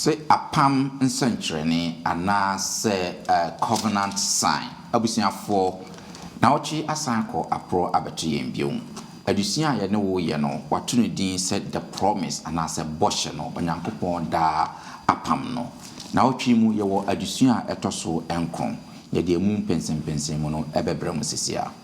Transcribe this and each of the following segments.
Sɛ apam nsɛnkyerɛnne anaa sɛ covenant sign. Abusuafoɔ, nawɔtwe asan akɔ aporɔ abɛto yɛn bio. Adesua a yɛne wo yɛ no, wɔato no din sɛ The Promise anaa sɛ Bɔhyɛ no, Onyankopɔn daa apam no. Nawɔtwe yi mu, yɛwɔ adesua a ɛtɔ so nkron. Yɛde emu mpɛnsɛmpɛnsɛmu no bɛbrɛ mo sesiaa.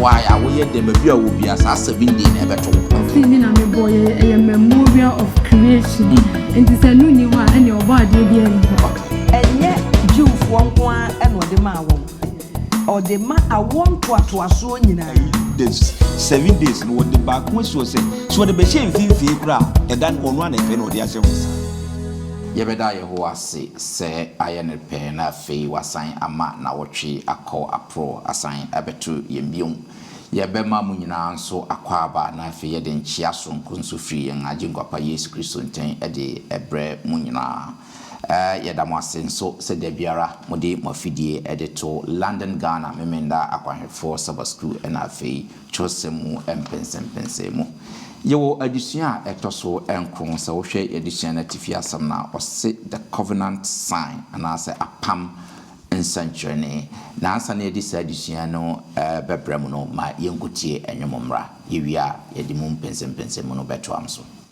why a woyɛ dɛm ebi a wobi a saa seven day na ɛbɛto wo. ɔfi mi na mi bɔ yɛ ɛyɛ memorial of creation hmm. nti sɛ nu ni hɔ a ɛna ɔbɔ adeɛ bi ɛni hɔ. ɛnyɛ jewfoɔ nko ara ɛna ɔde maa wɔn. Ɔde ma awoɔ ntoatoasoɔ nyinaa. Ayi days seven days no wɔde baako asi hɔ sɛ sɛ wɔde bɛhyɛ mfimfini koraa a, ɛda no ɔno ara na ɛfɛ na ɔde ahyɛ hɔ saa. Yɛbɛda Yehowa ase sɛ ayɛ no pɛ na afei wasan ama nnawɔtwe akɔ aporo asan abɛto yɛn bio. Yɛbɛma mo nyinaa nso akwaaba na afei yɛde nkyea soronko nso firi yɛn Agyenkwa Pa Yesu Kristo nkyɛn de rebrɛ mo nyinaa. Yɛda mo ase nso sɛ da biara mode mo afidie de to London Ghana Memenda Akwanhwɛfoɔ Saba Sukuu ɛna afei Twerɛsɛm mu mpɛnsɛmpɛnsɛɛ mu. Yɛwɔ adesua a ɛtɔ so nkron, sɛ wohwɛ yɛn adesua no atifi asɛm no a, ɔse The Covenant Sign anaasɛ Apam Nsɛnkyerɛnne. Na ansa na yɛde saa adesua no bɛbrɛ mo no, ma yɛnkɔtie nnwom mmra. Yɛwie a, yɛde mu mpɛnsɛmpɛnsɛmu no bɛtoam so.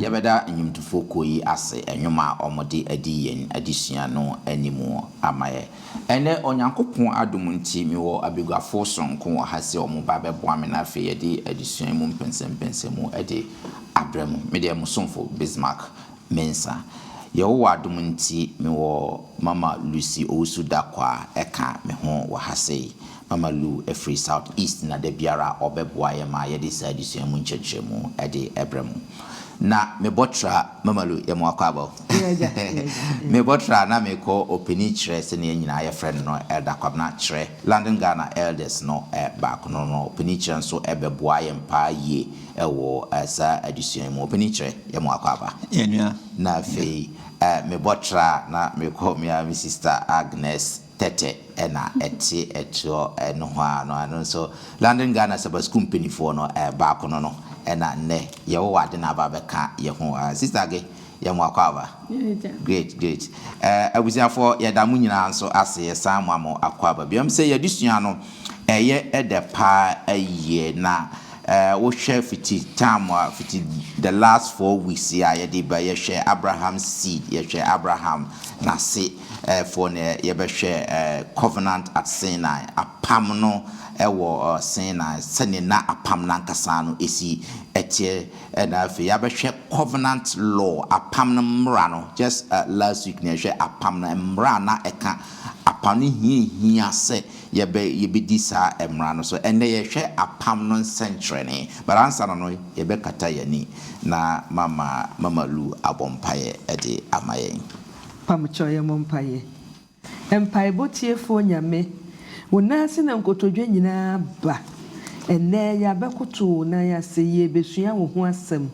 Yɛbɛda nnwomtofo kuo yi ase nnwom a wɔde adi yɛn adesua no anim ama yɛ. Ɛnnɛ, Onyankopɔn adom nti, mewɔ abaguafo sononko wɔ ha sɛ wɔn ba bɛboa me na afei yɛde adesua yi mu mpɛnsɛmpɛnsɛmu de abrɛ mo. Me deɛ, mo somfo Bismarck. Mensa. Yehowa adom nti, mewɔ Mama Lucy Owusu Darko a ɛka me ho wɔ ha sei. Mama Lu firi South East na da biara ɔbɛboa yɛn ma yɛde saa adesua mu nkyerɛkyerɛmu de brɛ mo. Ná mebɔtra, Mama Lu, yɛ mo akwaaba o, mebɔtra na mekɔ ɔpanin kyerɛ sɛdeɛ yɛn nyinaa yɛfrɛ no no, Elder Kwabena kyerɛ, London Ghana Elders no baako no no, ɔpanin kyerɛ nso bɛboa yɛn paa yie. wɔ saa adesua yi mu. Ɔpɛ ni kyerɛ yɛ mo akwaaba. Yɛ nua. Na afei me bɔ tra na me kɔ me ara me sista Agnes Tɛtɛ na ɛte ɛtoɔ nohoaa no ano nso London Ghana Saba Sukuu mpanifoɔ no baako no no na nnɛ yɛ wɔ wɔ ade na aba abɛka yɛ ho. Sista Age Yɛ mo akwaaba. Great great eh abusuafoɔ yɛda mo nyinaa nso ase yɛsan moa mo akwaaba bio ɛm sɛ yɛadesua no ɛyɛ ɛdɛ paa yie na eh wohwɛ fiti time a fiti the last four weeks yi a yɛde ba yɛhwɛ Abraham seed yɛhwɛ Abraham nase eh foɔ na yɛbɛhwɛ eh covenant at Sinai apam no ɛwɔ Sinai sɛdeɛ na apam no ankasa no ɛsi ɛteɛ Ɛna afei yɛabɛhwɛ covenant law, apam no mmara no. Just last week na yɛhwɛ apam no mmara a na ɛka apam no hia ehia sɛ yɛbɛ yɛbɛdi saa mmara no so. Ɛnɛ yɛhwɛ apam no nsɛnkyerɛnee. But ansa na no yɛbɛkata yɛn ani na mama Mama Lu abɔ mpaeɛ de ama yɛn. Pamokyɛw yɛmmɔ mpaeɛ. Mpaebɔ Tiefoɔ Nyame, Wo nan ase na nkotodwe nyinaa ba. Ɛnnɛ yɛabɛkoto Wo nan ase, yɛrebɛsua Wo ho asɛm.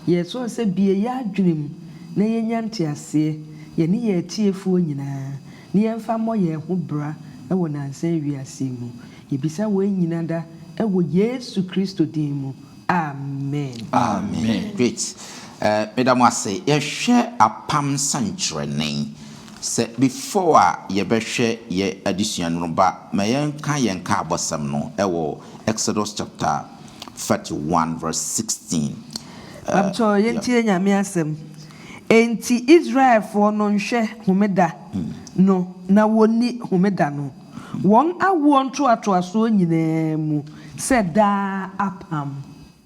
Yɛresrɛ Wo sɛ bue yɛn adwene mu na yɛnya nteaseɛ, yɛne yɛn atiefoɔ nyinaa, na yɛmfa mmɔ yɛn ho bra wɔ nnansa yi wiase yi mu. Yɛbisa wei nyina da wɔ Yesu Kristo din mu, amen. Amen. Great. Meda mo ase. Yɛhwɛ apam sɛnkyerɛnne. Sɛ before a yɛbɛhwɛ yɛ adesua no no ba ma yɛnka yɛn nkaabɔsɛm no wɔ Exodus chapter thirty one verse sixteen. Mpabokyɛw yɛntie Nyame asɛm. Enti Israelfoɔ no nhwɛ homeda no na wɔnni homeda no wɔn awoɔ ntoatoasoɔ nyinaa mu sɛ daa apam.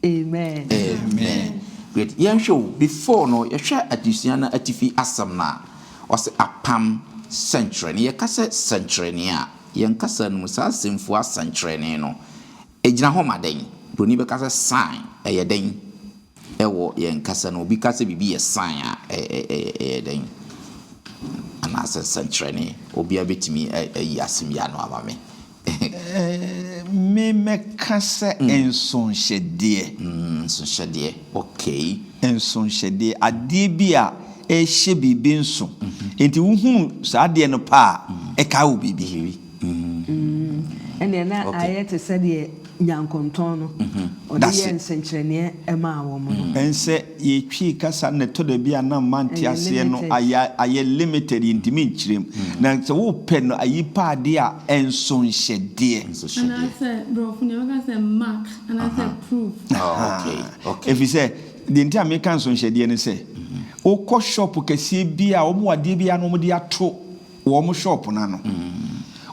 Amen. Amen great yɛnhwɛ o before no yɛhwɛ adesua no atifi asɛm no a ɔsɛ apam sɛnkyerɛnne yɛka sɛ sɛnkyerɛnne a yɛn kasa no mu saa asɛmfua sɛnkyerɛnne no egyina hɔ ma dɛn broni bɛka sɛ sign ɛyɛ dɛn ɛwɔ yɛn kasa no obi ka sɛ biribi yɛ sign a ɛyɛ dɛn anaasɛ sɛnkyerɛnne obiara bɛtumi ayi asɛm yi ano ama me Me mɛka sɛ nsonhyɛdeɛ. Nsonhyɛdeɛ, okay. Nsonhyɛdeɛ, adeɛ bi a ɛhyɛ biribi nso. Nti wohunu saa adeɛ no pɛ a, ɛkae wo biribi. Ɛnneɛ na ayɛ te sɛ deɛ. Nyankontɔn no, ɔde yɛɛ nsɛnkyerɛnneɛ maa wɔn no. Ɛnsɛ yɛtwii kasa na ɛtɔ da bi a na mma nte aseɛ no ayɛ ayɛ limited yɛntumi nkyerɛ mu na sɛ wopɛ no ayi pa adeɛ a ɛnso nhyɛ deɛ. Anaasɛ brɔfo deɛ wɔka sɛ mark anaasɛ proof. Ɛfiri sɛ deɛ nti a meka nsonhyɛdeɛ ne sɛ wokɔ shop kɛseɛ bi a wɔn wɔ adeɛ bi a na wɔde ato wɔ wɔn shop no ano.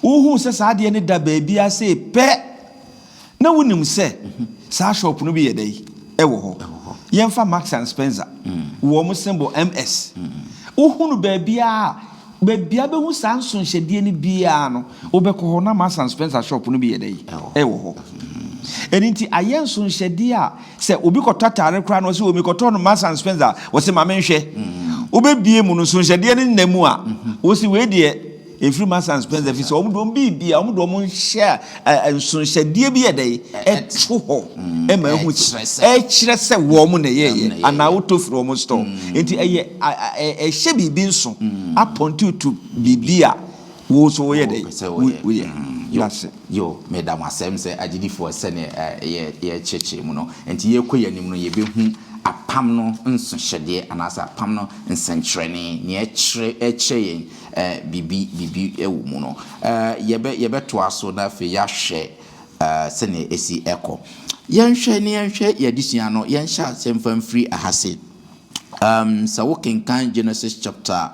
Wohuu sɛ saa adeɛ no da baabiara sei pɛ na wonim sɛ saa shop no bi yɛ dɛn? Ɛwɔ hɔ. Yɛmfa Marks and Spencer, wɔ wɔn symbol MS. Wohu no baabiara, baabiara bɛhu saa nsonhyɛdeɛ no biara no, wobɛkɔ hɔ na Marks and Spencer shop no bi yɛ dɛn? Ɛwɔ hɔ. Ɛno nti ayɛ nsonhyɛdeɛ a Sɛ obi kɔtɔ atare koraa na ɔse o mekɔtɔɔ no Marks and Spencer a, wɔse ma menhwɛ. Wobɛbie mu no, nsonhwɛdeɛ no nna mu a, wose wei deɛ ɛmfiri Marks and Spencer ɛfiri sɛ wɔn de wɔn biribi a wɔn de wɔn nhyɛ a nsonhwɛdeɛ bi yɛ dɛ ɛto hɔ ma ɛhu sɛ ɛkyerɛ sɛ wɔn na ɛyɛɛyɛ anaa wotɔ firi wɔn store. Nti ɛyɛ ɛhyɛ biribi nso apɔn tuutu biribi a Wo nso woyɛ dɛn? Wopɛ sɛ woyɛ? Woyɛ. Mm, yo, Nase. yo, meda mo asɛm sɛ agyedifoɔ sɛdeɛ ɛ, yɛ, yɛrekyerɛkyerɛ mu no. Enti yɛrekɔ yɛn anim no, yɛbɛhu apam no nsohyɛdeɛ anaasɛ apam no nsɛnkyerɛnne, nea ɛkyerɛ, ɛkyerɛ yɛn ɛ, biribi, biribi wɔ mu no. Ɛ, yɛbɛ, yɛbɛtoa so na afei yɛahwɛ ɛ, sɛdeɛ ɛsi kɔ. Yɛnhwɛ na yɛnhwɛ yɛn adesua no, yɛnhyɛ aseɛ mfa mfiri ha se. Um, sɛ wokenkan Genesis chapter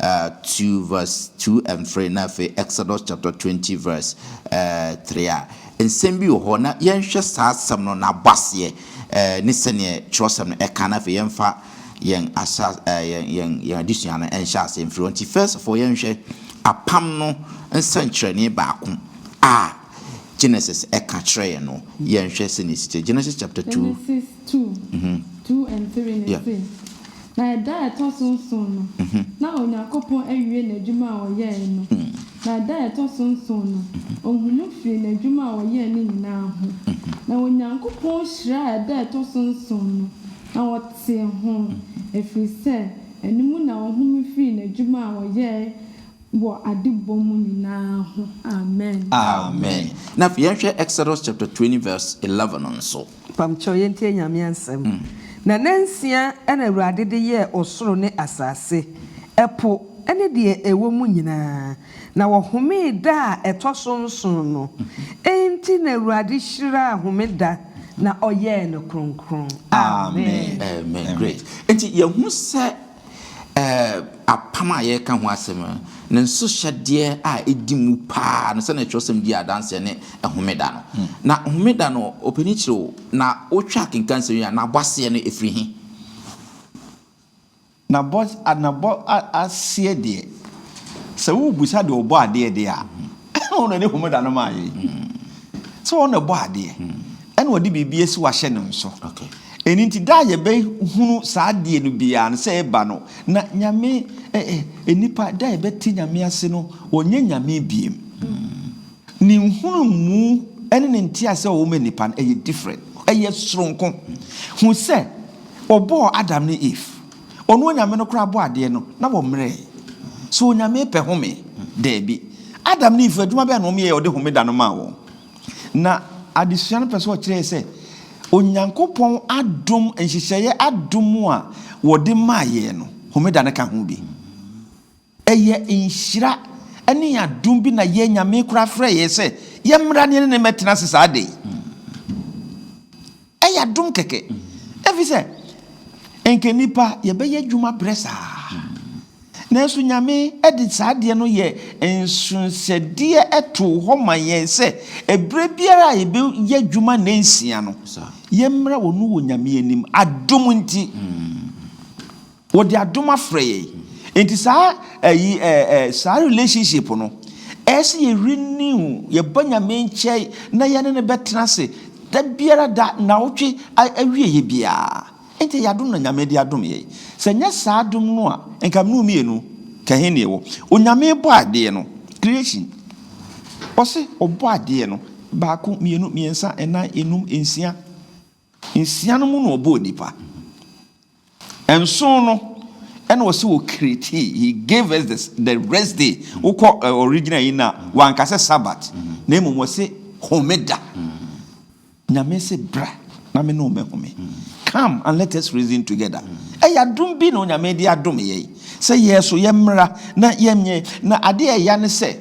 uh, 2 verse 2 and 3 na afei Exodus chapter 20 verse uh, 3 a, nsɛm bi wɔ hɔ na yɛnhwɛ saa asɛm no n'abɔ aseɛ uh, ne sɛdeɛ twerɛsɛm no ɛka na afei yɛmfa yɛn ahyɛ uh, yɛn yɛn yɛn adesua no ɛnhyɛ aseɛ mfiri hɔ nti first of all yɛnhwɛ apam no nsɛnkyerɛnne baako a Genesis ɛka kyerɛ yɛn no yɛnhwɛ sɛdeɛ ɛsi kyerɛ Genesis chapter 2 Two, two and three no se, Na ɛda a ɛtɔ so nson no, na Onyankopɔn awie n'adwuma a ɔyɛe no, na ɛda a ɛtɔ so nson no, ɔhunuu firii n'adwuma a ɔyɛe no nyina ara ho, na Onyankopɔn hyiraa ɛda a ɛtɔ so nson no, na ɔtee ho, ɛfiri sɛ ɛno mu na ɔhome firii n'adwuma a ɔyɛe wɔ adebɔ mu nyina ara ho. Amen. Amen. Na afei yɛnhwɛ Exodus chapter twenty verse eleven no nso. Pam kyɛw, yɛntie Nyame asɛm. Na nansia na Awurade de yɛɛ ɔsoro ne asase, ɛpo ne deɛ ɛwɔ mu nyinaa, na ɔhomee da a ɛtɔ so nson no. Enti na Awurade hyiraa homeda na ɔyɛɛ no kronkron. Amen. Amen. Great. Enti yɛhunu sɛ Apam a yɛreka ho asɛm no, ne nsohyɛdeɛ a ɛdi mu pa ara no, sɛdeɛ twerɛsɛm di adanseɛ ne homeda no. Na homeda no, ɔpanin kyerɛ o, na wotwa akenkan nsɛm yi a, n'abɔ aseɛ no ɛfiri he? N'abɔ aseɛ deɛ, sɛ worebisa deɛ ɔbɔ adeɛ deɛ a, ɛna ɔno ɛde homeda no maa yɛn sɛ ɔno ɛbɔ adeɛ ɛna ɔde biribi asi wahyɛ ne nso ɛni nti da a yɛbɛhunu saa adeɛ no biara no sɛ ɛba no na nyame nnipa da a yɛbɛte nyame ase no ɔnyɛ nyame biem ne nhunu mu ɛne ne nte ase ɔwɔ ma nnipa no ɛyɛ different ɛyɛ soronko hu sɛ ɔbɔɔ Adam ne Eve Ɔno Onyame no koraa bɔɔ adeɛ no, na wɔmmerɛɛ. So Onyame pɛ home? Daabi. Adam ne Eve, adwuma bɛn na wɔyɛɛ a Ɔde Homeda no maa wɔn? Na adesua no pɛ sɛ ɔkyerɛ yɛn sɛ, Onyankopɔn adom, nhyehyɛeɛ adom a Ɔde maa yɛn no, Homeda no ka ho bi. Ɛyɛ nhyira ne adom bi na yɛn Nyame koraa frɛɛ yɛn sɛ yɛmmra ne yɛne no mmɛtena ase saa da yi. Ɛyɛ adom kɛkɛ, efisɛ nka nnipa yɛbɛyɛ adwuma brɛ saa. Nanso Nyame de saa adeɛ no yɛ nsonsɛdeɛ too hɔ ma yɛn sɛ ɛberɛ biara a yɛbɛyɛ adwuma nna nsia no, yɛmmra Ɔno wɔ Nyame anim, adom nti. Wɔde adom afrɛ yɛn. Nti saa ɛyi eh eh saa relationship no ɛsɛ yɛ renew, yɛ ba Nyame nkyɛn na yɛne no bɛtena ase da biara da, nawɔtwe awieɛ biara. Nti ɛyɛ adom na Nyame de adom yɛn. Sɛ nyɛ saa adom no a nka mene wo mmienu ka he ne yɛwɔ. Onyame bɔ adeɛ no, creation, ɔse ɔbɔ adeɛ no baako, mmienu, mmiɛnsa, nnan, nnum, nsia. Nsia no mu na ɔbɔɔ nnipa. Nson no ɛna ɔsɛ wɔ create he gave us the the rest day wokɔ uh, original yi na wanka sɛ sabat na mmom ɔsɛ homeda nyame sɛ bra na me ne ɔmɛhome come and let us reason together ɛyɛ adom bi na onyame de adom yɛ sɛ yɛ so yɛ mmra na yɛnyɛ na adeɛ ɛya ne sɛ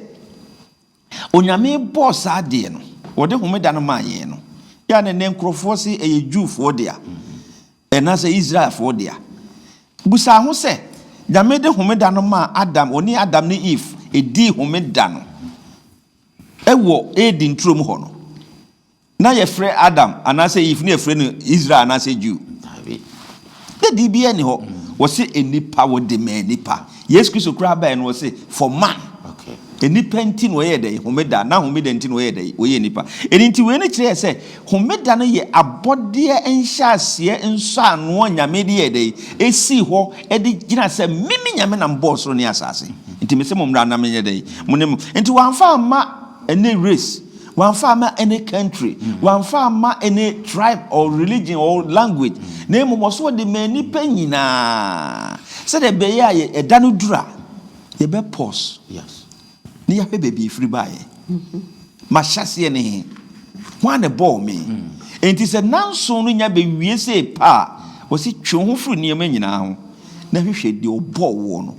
Onyame bɔɔ saa adeɛ no, wɔde homeda no maa yɛn no, yɛ a na nnɛ nkorɔfoɔ se ɛyɛ Jewfoɔ dea, anaasɛ Israelfoɔ dea. Busa ho sɛ, Nyame de homeda no maa Adam, ɔne Adam ne Eve dii homeda no wɔ Eden turom hɔ no, Na yɛfrɛ Adam anaasɛ Eve no yɛfrɛ no Israel anaasɛ Jew. Daabi. Dɛ biribiara nni hɔ. Wɔse nnipa wɔde maa nnipa. Yesu Kristo koraa baeɛ no wɔse for man. Okay. Nnipa nti na wɔyɛɛ dɛn? Homeda. Na homeda nti na wɔyɛɛ dɛn? Wɔyɛɛ nnipa. Ɛno nti wei no kyerɛɛ sɛ homeda no yɛ abɔdeɛ nhyɛaseɛ nsɔanoɔ a Nyame de yɛɛ dɛn? Ɛsii hɔ de gyina sɛ meme Nyame na mebɔɔ soro ne asaase. Nti mese mo mmra na menyɛ dɛn? Mo ne mo. Nti wɔamfa amma. Any race, wamfa amma any country, wamfa amma any tribe or religion or language, na mmom ɔso ɔde maa nnipa nyinaa, sɛdeɛ ɛbɛyɛ a yɛ ɛda no duru a, yɛbɛ pause na yɛahwɛ baabi a ɛfiri baeɛ. M'ahyɛseɛ ne he? Hwan na ɛbɔɔ me? Enti sɛ nnanson no nya bɛwie sei pɛ a, ɔse, twe wo ho firi nneɛma nyinaa ho. Na hwehwɛ deɛ ɔbɔɔ woɔ no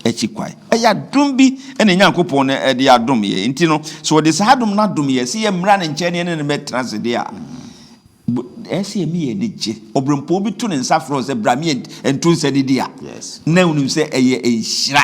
akyi kwan. Ɛyɛ adom bi na Nyankopɔn no de adom yɛ. Nti no, sɛ ɔde saa adom no adom yɛ, sɛ yɛmmra ne nkyɛn na yɛne no mmɛtena ase deɛ a, ɛyɛ sɛ yɛne yɛn ani gye. Ɔberempɔn bi to ne nsa frɛ wo sɛ, Bra me nto nsa nidi a, na wonim sɛ ɛyɛ nhyira.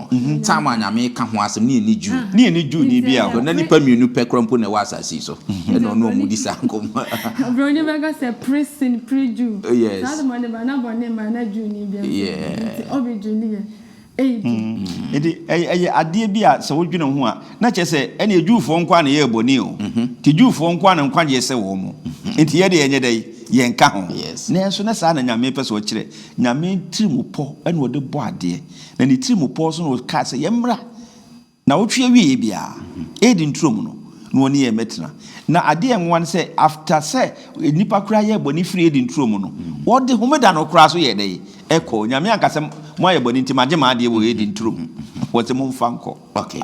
ntam a Nyame reka ho asɛm ne ɛnni Jew ne ɛnni Jewni biara hɔ. Ná nnipa mmienu pɛ koraa mpo na ɛwɔ asase yi so, ɛna ɔne wɔn di saa nkɔmmɔ no. Oburoni bɛka sɛ, Pre sin, pre Jew. Saa de bɔne ba, na bɔne mmae, na Jewni biara mpo nni hɔ. Enti ɔbe Jew no yɛ eyi de. Enti ɛyɛ adeɛ bi a sɛ wo dwene ho a, na kyerɛ sɛ ɛneɛ Jewfoɔ nko ara na ɛyɛɛ bɔne o. Enti Jewfoɔ nko ara na nkwagyeɛ sɛ wɔn. Enti yɛn deɛ yɛnyɛ dɛn? Yɛnka ho. Nanso na saa na Nyame pɛ sɛ ɔkyerɛ. Nyame tirimupɔ na ɔde bɔ adeɛ. na ne tirim pɔw so na ɔkaa sɛ, Yɛmmra. Nnawɔtwe awieeɛ biara, Eden turo mu no, na ɔne yɛn bɛtena. Na adeɛ a ɛnwowa ne sɛ, after sɛ nnipa koraa yɛɛ bɔne firii Eden turo mu no, wɔde Homeda no koraa nso yɛɛ dɛn? Ɛkɔɔ. Nyame anka sɛ, Moayɛ bɔne nti, magye m'adeɛ wɔ Eden turo mu. Wɔse momfa nkɔ. Okay,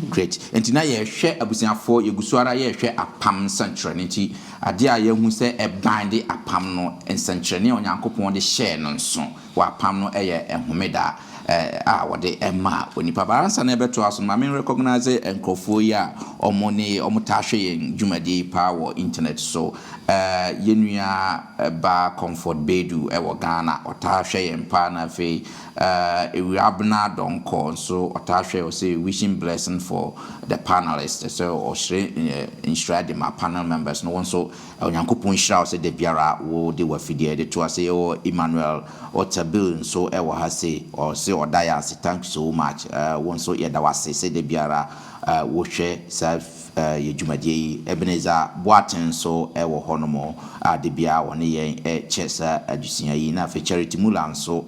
great. Nti na yɛrehwɛ abusuafoɔ, yɛgu so ara yɛrehwɛ apam nsɛnkyerɛnne. Nti adeɛ a yɛahu sɛ ɛbande apam no, nsɛnkyerɛnne a Onyankopɔn de hyɛɛ no nso, wɔapam no yɛ homeda a wɔde ma onipa. But ansa na yɛbɛtoa so no, ma me recognize nkurɔfoɔ yi a wɔn ne wɔn taa hwɛ yɛn dwumadie yi paa wɔ internet so. Yɛn nua baa Comfort Bedu wɔ Ghana, ɔtaa hwɛ yɛn paa na afei Ewurabena Donkɔ nso ɔtaa hwɛ, ɔse wishing blessing for the panelist, sɛ ɔhyerɛ nhyira de ma panel members no, wo nso Onyankopɔn nhyira wo sɛ da biara wo de w'afideɛ de to ase yɛwɔ Emmanuel Otabil nso wɔ ha sei ɔse ɔda yɛ ase thank you so much wo nso yɛda wo ase sɛ da biara wo hwɛ saa yɛ dwumadie yi Ebenezer Boateng nso wɔ hɔ nom a da biara ɔne yɛn kyɛ saa adesua yi na afei Charity Muller nso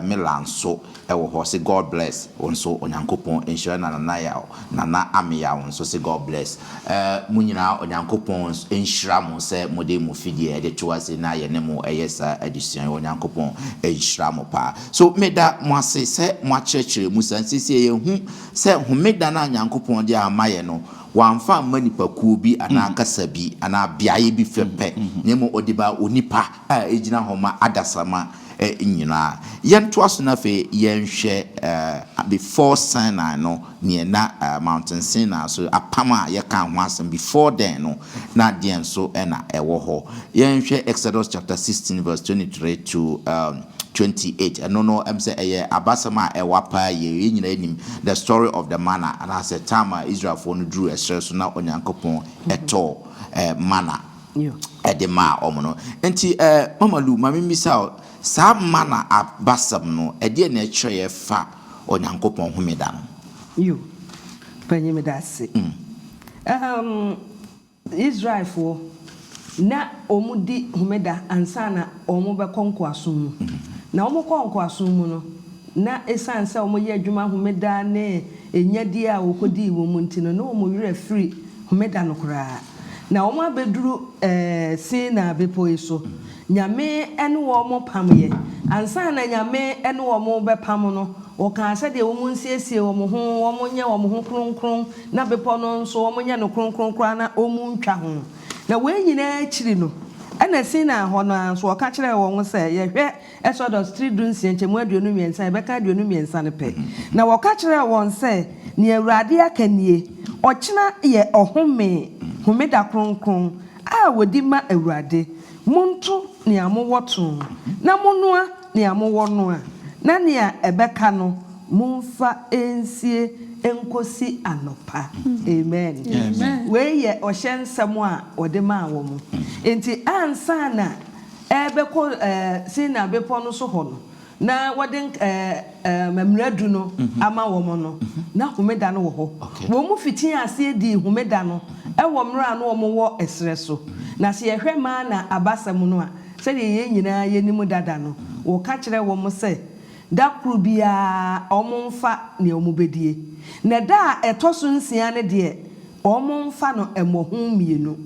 Miller nso Ɛwɔ hɔ se God bless wo nso Onyankopɔn nhyira na Nana Yaw Nana Ame Yaw nso se God bless eh mo nyinaa Onyankopɔn nhyira mo sɛ mode mo fidie ɛde to ase na yɛne mo ɛyɛ saa adesua yi Onyankopɔn nhyira mo paa so meda mo ase sɛ mo akyerɛkyerɛ mu saa sesie yɛhu sɛ homeda no a Nyankopɔn de ama yɛ no wamfa amma nipakuo bi anaa kasa bi anaa beaeɛ bi fɛ pɛ na mmom ɔde baa onipa a ɛgyina hɔ ma adasama nyinaa. Yɛntoa so na afei yɛnhwɛ before Sinai no, neɛ na Mountain Sinai so, apam a yɛkaa ho asɛm before then no, na deɛn nso na ɛwɔ hɔ. Yɛnhwɛ Exodus chapter sixteen verse twenty three to twenty eight. Ɛno no, ɛm sɛ ɛyɛ abasɛm a ɛwa paa yie. Yɛn nyinaa nim the story of the manna, anaasɛ time a Israelfoɔ no duruu ɛserɛ so na Onyankopɔn tɔɔ manna. de maa wɔn no. Enti eh, Mama Lu, ma mimmisa wo, saa mana abasɛm no, ɛdeɛn na ɛkyerɛ ɛfa Onyankopɔn homeda no? Yo, Panyin, meda ase. Um, Israelfoɔ, na wɔdi homeda ansa na wɔbɛkɔ nkoasom mu. Na wɔkɔɔ nkoasom mu no, na esiane sɛ wɔyɛ adwuma homeda ne ɛnyadie a wɔkɔdii wɔ mu nti no, na wɔn werɛ afiri homeda no koraa. na wɔabɛduru Sinai Bepɔ yi so. Nyame ne wɔn pameeɛ. Ansa na Nyame ne wɔn rebɛpam no, ɔkaa sɛdeɛ wɔn nsiesie wɔn ho, wɔn nyɛ wɔn ho kronkron, na bepɔ no nso wɔn nyɛ no kronkron koraa na wɔn ntwa ho. Na wei nyinaa akyiri no, ɛna Sinai hɔ no ara nso ɔka kyerɛɛ wɔn sɛ, Yɛhwɛ, Exodus tiri dunsia nkyɛmu aduonu mmiɛnsa, yɛbɛka aduonu mmiɛnsa no pɛ, Na wɔka kyerɛɛ wɔn sɛ, Nea Awurade aka nie, Ɔkyena yɛ ɔhome, homeda kronkron, a wɔdi ma Awurade. Monto nea mowɔ to, na monnoa nea mowɔ noa, na nea ɛbɛka no, momfa nsie nkɔsi anɔpa. Amen. Wei yɛ ɔhyɛ nsɛm a wɔde maa wɔn. Enti ansa na. rebɛkɔ Sinai Bepɔ no so hɔ no, na wɔde Mmara Du no ama wɔn no, na Homeda no wɔ hɔ. Wɔfitii aseɛ dii Homeda no wɔ mmerɛ a na wɔwɔ serɛ so. Na sɛ yɛhwɛ Manna abasɛm no a, sɛdeɛ yɛn nyinaa yɛnim dada no, wɔka kyerɛ wɔn sɛ da koro biara wɔmfa deɛ wɔbɛdie, na da a ɛtɔ so nsia no deɛ wɔmfa no mmɔho mmienu.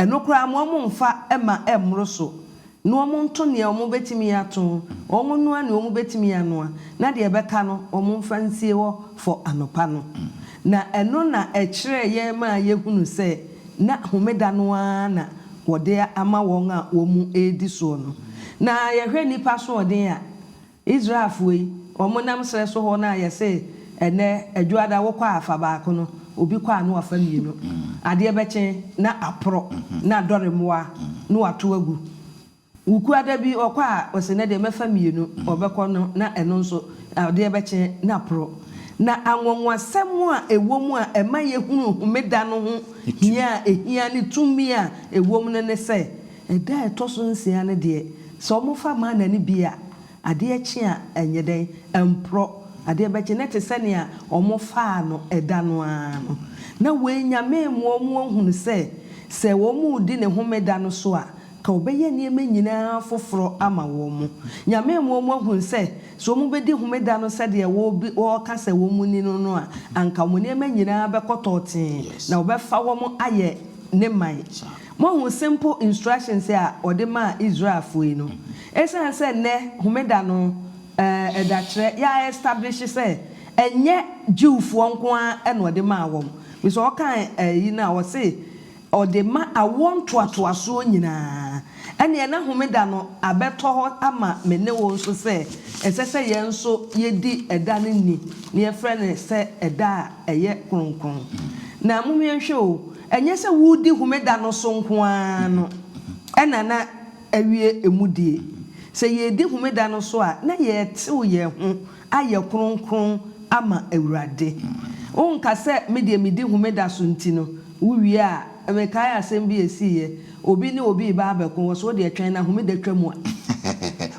Ɛno koraa mo wɔn mfa mma ɛmmoro so, na wɔn nto nea wɔn betumi ato, wɔn nnoa nea wɔn betumi anoa, na deɛ ɛbɛka no wɔn mfa nsie hɔ fɔ anɔpa no. Na ɛno na ɛkyerɛɛ yɛn maa yɛhunu sɛ na homeda no ara na wɔde ama wɔn a wɔn mu redi soɔ no. Na yɛhwɛ nnipa asoɔden a. Israelfoɔ yi, wɔn nam serɛ so hɔ no a yɛse ɛnnɛ Adwuada wo kɔ a fa baako no, obi kɔ a na wafa mmienu. Adeɛ bɛkye na aporo na adɔre mmoa na wato agu. Wo kuo ada bi ɔkɔ a ɔse nnɛ deɛ mɛfa mmienu, ɔbɛkɔ no na ɛno nso adeɛ bɛkye na aporo. Na anwanwasɛm a ɛwɔ mu a ɛma yɛhunu Homeda no ho hia a ɛhia ne tumi a ɛwɔ mu no ne sɛ, Ɛda a ɛtɔ so nsia no deɛ, sɛ wɔfa mana no bi a, adeɛ kye a, ɛnyɛ dɛn? Ɛmporɔ. Adeɛ bɛkye, na ɛte sɛ nea wɔfaa no ɛda no ara no. Na wei Nyame rema wɔn ahunu sɛ, sɛ wɔredi ne homeda no so a, anka ɔbɛyɛ nneɛma nyina ara foforɔ ama wɔn. Nyame rema wɔn ahunu sɛ, sɛ wɔbɛdi homeda no sɛdeɛ wɔka sɛ wɔnni no no a, anka wɔn nneɛma nyina ara bɛkɔ tɔɔtee, na ɔbɛfa wɔn ayɛ ne man. Moahu simple instructions a ɔde maa Israelfoɔ yi no? Esiane sɛ nnɛ Homeda no eh, ɛdakyerɛ, yɛ a establish sɛ ɛnyɛ Jewfoɔ nko ara na ɔde maa wɔn. Bisa ɔka ayi no a, ɔse ɔde ma awoɔ ntoatoasoɔ nyinaa. Ɛneɛ na Homeda no abɛtɔ hɔ ama me ne wo nso sɛ ɛsɛ sɛ yɛn nso yɛdi ɛda no ni, na yɛfrɛ no sɛ ɛda a. ɛyɛ kronkron. Na monhwɛ nhwɛ o, ɛnyɛ sɛ woredi Homeda no so nko ara no na na awie emu die. Sɛ yɛredi Homeda no so a, na yɛretew yɛn ho ayɛ kronkron ama Awurade. Wonka sɛ, Me deɛ medi Homeda so nti no, wowie a, mekae asɛm bi a esiiɛ, obi ne obi reba abɛko, wɔse, Wo deɛ twɛn na Homeda twa mu a.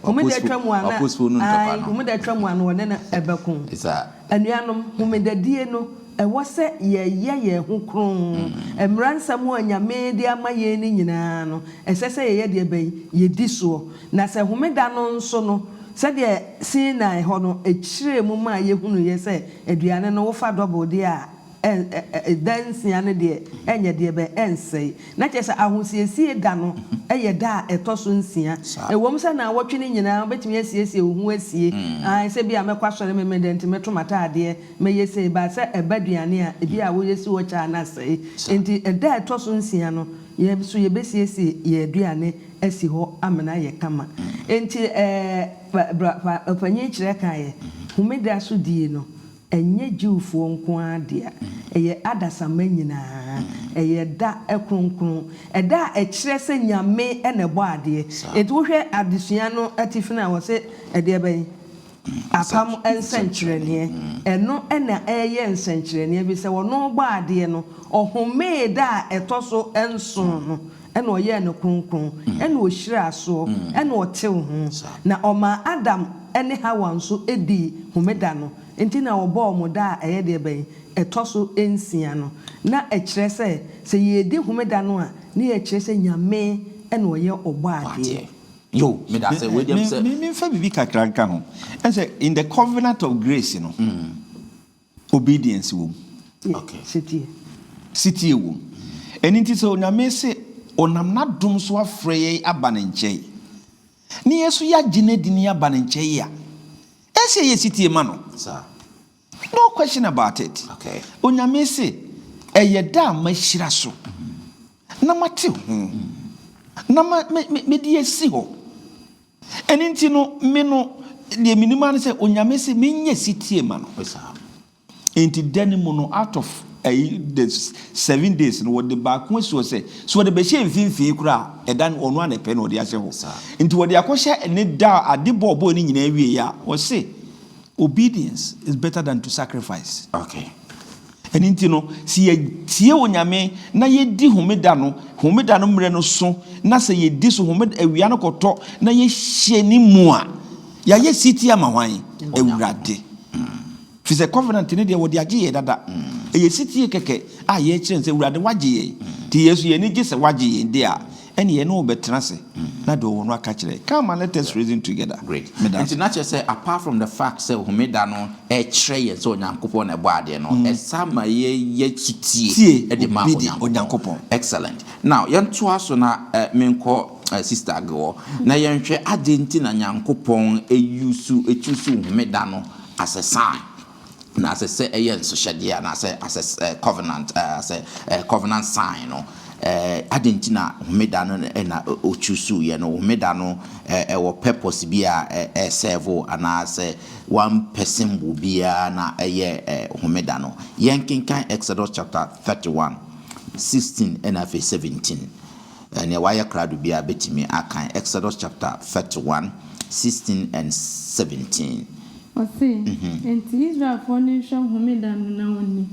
Homeda twa mu a na, ae, Homeda twa mu a na wɔne no bɛko. Anuanom, Homedadie no, ɛwɔ sɛ yɛyɛ yɛn ho kronn. Mmara nsɛm a Nyame de ama yɛn no nyinaa no, ɛsɛ sɛ yɛyɛ deɛ bɛn? Yɛdi soɔ. Na sɛ Homeda no nso no, sɛdeɛ Sinai hɔ no, ɛkyerɛɛ mu maa yɛhunuiɛ sɛ aduane no, wofa dɔbol deɛ a, da nsia no deɛ ɛnyɛ deɛ bɛn, ɛnsɛe. Na kyerɛ sɛ Ahosiesie Da no yɛ da a ɛtɔ so nsia. Ɛwom sɛ nnawɔtwe no nyinaa wobɛtumi asiesie wo ho asie, ae, sɛ ebia mɛkɔ asɔre Memeneda nti mɛto m'ataadeɛ, mɛyɛ sei, but sɛ ɛba aduane a, ebia a woyɛ si hɔ kyɛ a na asɛe. Enti da a ɛtɔ so nsia no, yɛn nso yɛbɛsiesie yɛn aduane asi hɔ amena ayɛ kama. Enti ɛɛ, Bra, Bra, Ɔpanyin Kyerɛ kaeɛ, Homeda so die no, Ɛnyɛ Jewfoɔ nko ara dea, ɛyɛ adasamma nyinaa. Ɛyɛ da kronkron. Ɛda a ɛkyerɛ sɛ Nyame na ɛbɔɔ adeɛ. Enti wohwɛ adesua no atifi no a, wɔse ɛdeɛ bɛn? Apam nsɛnkyerɛnneɛ. Ɛno na ɛyɛ nsɛnkyerɛnneɛ bi sɛ ɔno ɔbɔɔ adeɛ no, ɔhomee da a ɛtɔ so nson no. Ɛna ɔyɛɛ no kronkron, ɛna ohyiraa soɔ, ɛna ɔtew ho, na ɔmaa Adam ne Hawa nso dii homeda no nti na wɔbɔɔ wɔn da a ɛyɛ deɛ bɛn? Ɛtɔ so nsia no. Na ɛkyerɛ sɛ, sɛ yɛredi homeda no a, na yɛkyerɛ sɛ Nyame na ɔyɛ ɔbɔadeɛ. Menfa biribi kakra nka ho. Woahu sɛ in the covenant of grace no, Obedience wom. Okay. Setie. Setie wom. Ɛno nti sɛ Onyame se ɔnam n'adom so afrɛ yɛn aba ne nkyɛn, ne yɛn nso yɛagye no adi ne yɛaba ne nkyɛn a, ɛsɛ sɛ yɛyɛ setie ma no. No question about it. Okay. Onyame se, ɛyɛ da a mahyira so, na mate ho, na mede asi hɔ. Ɛno nti no, me no, deɛ menim ara ne sɛ Onyame se menyɛ setie ma no. Enti da no mu no, out of ayi, the seven days no, wɔde baako asi hɔ sɛ, sɛ wɔde bɛhyɛ mfimfini koraa a, ɛda no, ɔno ara na ɛpɛ na ɔde ahyɛ hɔ. Nti wɔde akɔhyɛ ne da a ade bɔ ɔbɔɔ ne nyinaa wieeɛ a, wɔse, Obedience is better than to sacrifice. Okay. Ɛno nti no, sɛ yɛtie Onyame na yɛdi Homeda no, Homeda no mmerɛ no so, na sɛ yɛdi so Homeda awia no kɔtɔ na yɛhyɛ ne mu a, yɛayɛ setie ama hwan? Awurade. Firi sɛ Covenant no deɛ wɔde agye yɛn dada. Ɛyɛ setie kɛkɛ a yɛkyerɛ no sɛ Awurade wagye yɛn, nti yɛn nso yɛn ani gye sɛ wagye yɛn deɛ a, Ɛne yɛne wo bɛtena ase na deɛ ɔwɔ no aka kyerɛ. Come and let us reason together. Great. Meda Nti ase. na kyerɛ sɛ apart from the fact sɛ Homeda no kyerɛ yɛn sɛ Onyankopɔn na ɛbɔɔ adeɛ no, ɛsan ma yɛyɛ sotie Tie de ma obi de Onyankopɔn. Onyankopɔn. Excellent. Now yɛntoa so na eh, menkɔ eh, Sister Age hɔ na yɛnhwɛ adɛn nti na Nyankopɔn use, choose Homeda no as a sign Na asɛ sɛ ɛyɛ nsohyɛdeɛ anaasɛ asɛ sɛ covenant ɛɛ asɛ ɛɛ covenant sign no ɛɛ adi nti na homeda no ɛna ɔchusu yɛ no homeda no ɛɛ ɛwɔ purpose bi a ɛɛ sɛvo anaasɛ one person mu biara na ɛyɛ ɛɛ homeda no yɛn kenkan Exodus chapter thirty one sixteen ɛna afei seventeen Ɛnneɛ wayɛ krado biara bɛtumi akan Exodus chapter thirty one sixteen and seventeen. Ɔse, Enti Israelfoɔ no nhwɛ homeda no na wɔnni,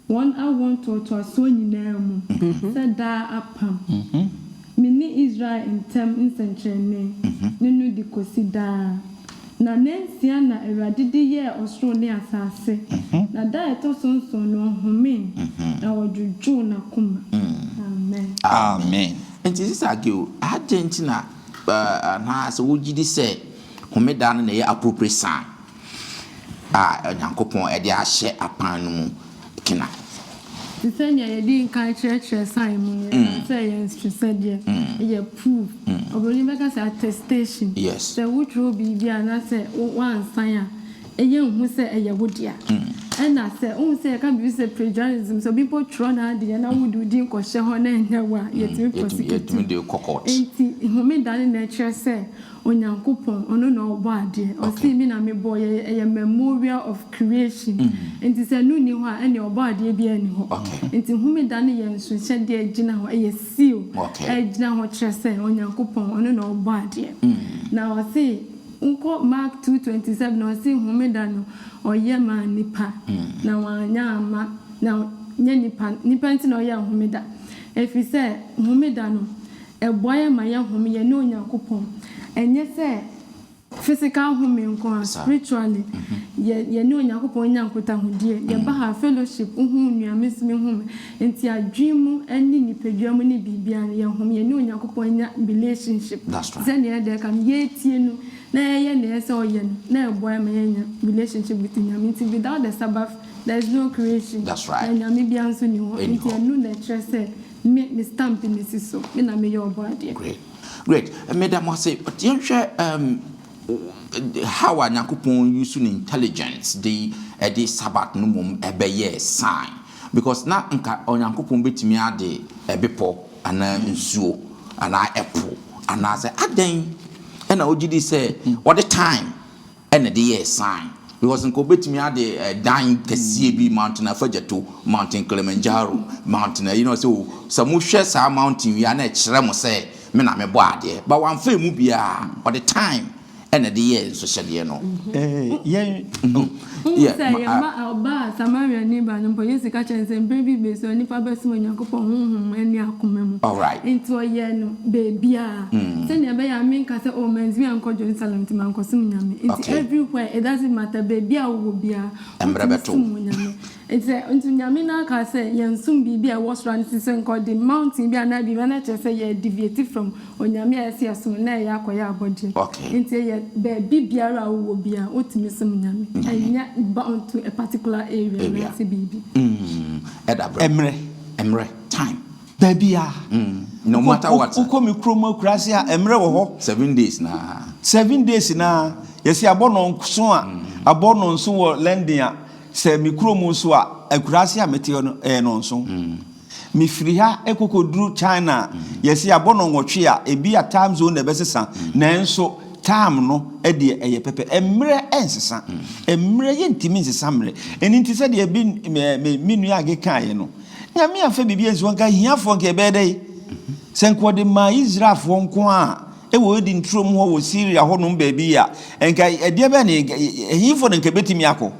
wɔn awoɔ ntoatoasoɔ nyinaa mu, sɛ daa apam, me ne Israel ntam nsɛnkyerɛnne, ne no de kɔsi daa. Na nnansia na Awurade de yɛɛ ɔsoro ne asase, na da a ɛtɔ so nson no ɔhomee, na ɔdwodwoo n'akoma. Amen. Amen. Nti Sista Agew, adɛn nti na anaa sɛ wogye di sɛ Homeda no na ɛyɛ aporoporosan a Onyankopɔn de ahyɛ apan no mu? gyina. Te sɛ nea yɛadi nkan kyerɛkyerɛɛ sign mu no, yɛkaa sɛ ɛyɛ nsesɛdeɛ, ɛyɛ proof. Oburoni bɛka sɛ attestation. Sɛ wotwerɛ biribi anaasɛ woansan a, ɛyɛ nhu sɛ ɛyɛ wo dea. Ɛna sɛ, wohu sɛ yɛka biribi sɛ plagiarism, sɛ obi mpo twerɛ n'adeɛ na wode wo din kɔhyɛ hɔ na ɛnyɛ wo a, yɛtumi prosecute wo. Enti homeda no na ɛkyerɛ sɛ Onyankopɔn, ɔno na ɔbɔ adeɛ. Ɔsee me na me bɔɔ yɛ, ɛyɛ memorial of creation. Nti sɛ ɛno nni hɔ a, ɛnneɛ ɔbɔ adeɛ biara nni hɔ. Nti homeda no yɛ nsuhyɛdeɛ a ɛgyina hɔ, ɛyɛ seal a ɛgyina hɔ kyerɛ sɛ Onyankopɔn, ɔno na ɔbɔ adeɛ. Na ɔsee, wokɔ Mark two twenty seven a, ɔsee homeda no ɔyɛ maa nnipa, na wanyɛ amma, na nyɛ nnipa, nnipa nti na ɔyɛɛ homeda. Ɛfiri sɛ homeda no, Ɛboa yɛn ma yɛhome yɛne Onyankopɔn. Ɛnyɛ sɛ physical home nko ara, spiritually, yɛ, yɛne Onyankopɔn nya nkutahodie. Yɛba ha a, fellowship, wohu nua, me nso mehu me. Enti adwene mu ne nipadua mu ne biribiara no, yɛhome, yɛne Onyankopɔn nya relationship. Sɛdeɛ ɛda ɛka no, yɛtie No na yɛyɛ deɛ ɛsɛ sɛ ɔyɛ no, na ɛboa yɛn ma yɛnya relationship with Nyame. Nti without the Sabbath, there is no creation, na Nyame biara nso nni hɔ. Enti ɛno na ɛkyerɛ sɛ Me me stamp ne si so. Me na meyɛ ɔbɔadeɛ. Great great meda mo ase yɛnhwɛ um how a nyankopɔn use ne intelligence de ɛde sabbath no mmom ɛbɛyɛɛ sign because na nka onyankopɔn bɛtumi ade ɛbepɔ anaa nsuo anaa ɛpo anaasɛ adɛn ɛna ɔgyedi sɛ ɔde time na ɛde yɛɛ sign because nka obetumi ade dan kɛseɛ bi mountain afagyato mountain Kilimanjaro mountain ayi na ɔsɛ o sɛ mo hwɛ saa mountain wia na ɛkyerɛ mo sɛ me na me bɔ adeɛ but wanfa emu biara ɔde time na ɛde yɛɛ nsohyɛdeɛ no yɛn wohu sɛ yɛn ba ɔbaa Samaria ni ba no mpo Yesu ka kyerɛ no sɛ mprɛ bi bɛsi hɔ nipa bɛsom Onyankopɔn honhom mu ɛne akoma mu alright nti ɔyɛɛ no baabiara. sɛnea ɛbɛyɛ a menka sɛ oh mantumi ankɔ Jerusalem nti mankɔsom Nyame. Nti okay. everywhere it doesn't matter baabi a wowɔ biara wotumi som wɔ Nyame. Nti sɛ nti Nyame no aka sɛ yɛnsom biribi a ɛwɔ soro a nti sɛ nka ɔde mountain bi anaa biribi na kyerɛ sɛ yɛ deviate from Onyame a ɛsɛ yɛsom na ɛyɛ akɔyɛ abɔdeɛ. Okay. Nti ɛyɛ baabi biara a wowɔ biara wotumi som Nyame. Ɛnyɛ bound to a particular area anaasɛ biribi. Mm, ɛda berɛ. Ɛmmerɛ, ɛmmerɛ, time. Baabi a. Mm, no matter what. Wokɔ me kurom akuraase a, mmerɛ wɔ hɔ. Seven days na. Seven days na. Yɛsi abɔ no nso a, abɔ no nso wɔ London a, sɛ me kurom nso a, akuraase a mete no, ɛyɛ no nso. Mefiri ha kɔkɔduru China a, yɛsi abɔ no nwɔtwe a, ebi a time zone na ɛbɛsesa, nanso time no deɛ ɛyɛ pɛpɛ. Mmerɛ nsesa. Mmerɛ, yɛntumi nsesa mmerɛ. Ɛno nti sɛdeɛ bi me nua Age kaeɛ no, Nyame amfa biribi ansi hɔ nka ahiafoɔ nka ɛbɛyɛ dɛn? Sɛ nka ɔde maa Israelfoɔ nko a ɛwɔ Eden turom hɔ wɔ Syria hɔnom baabi a, nka ɛdeɛ bɛn ne ɛhefoɔ na nka ɛbɛtumi akɔ?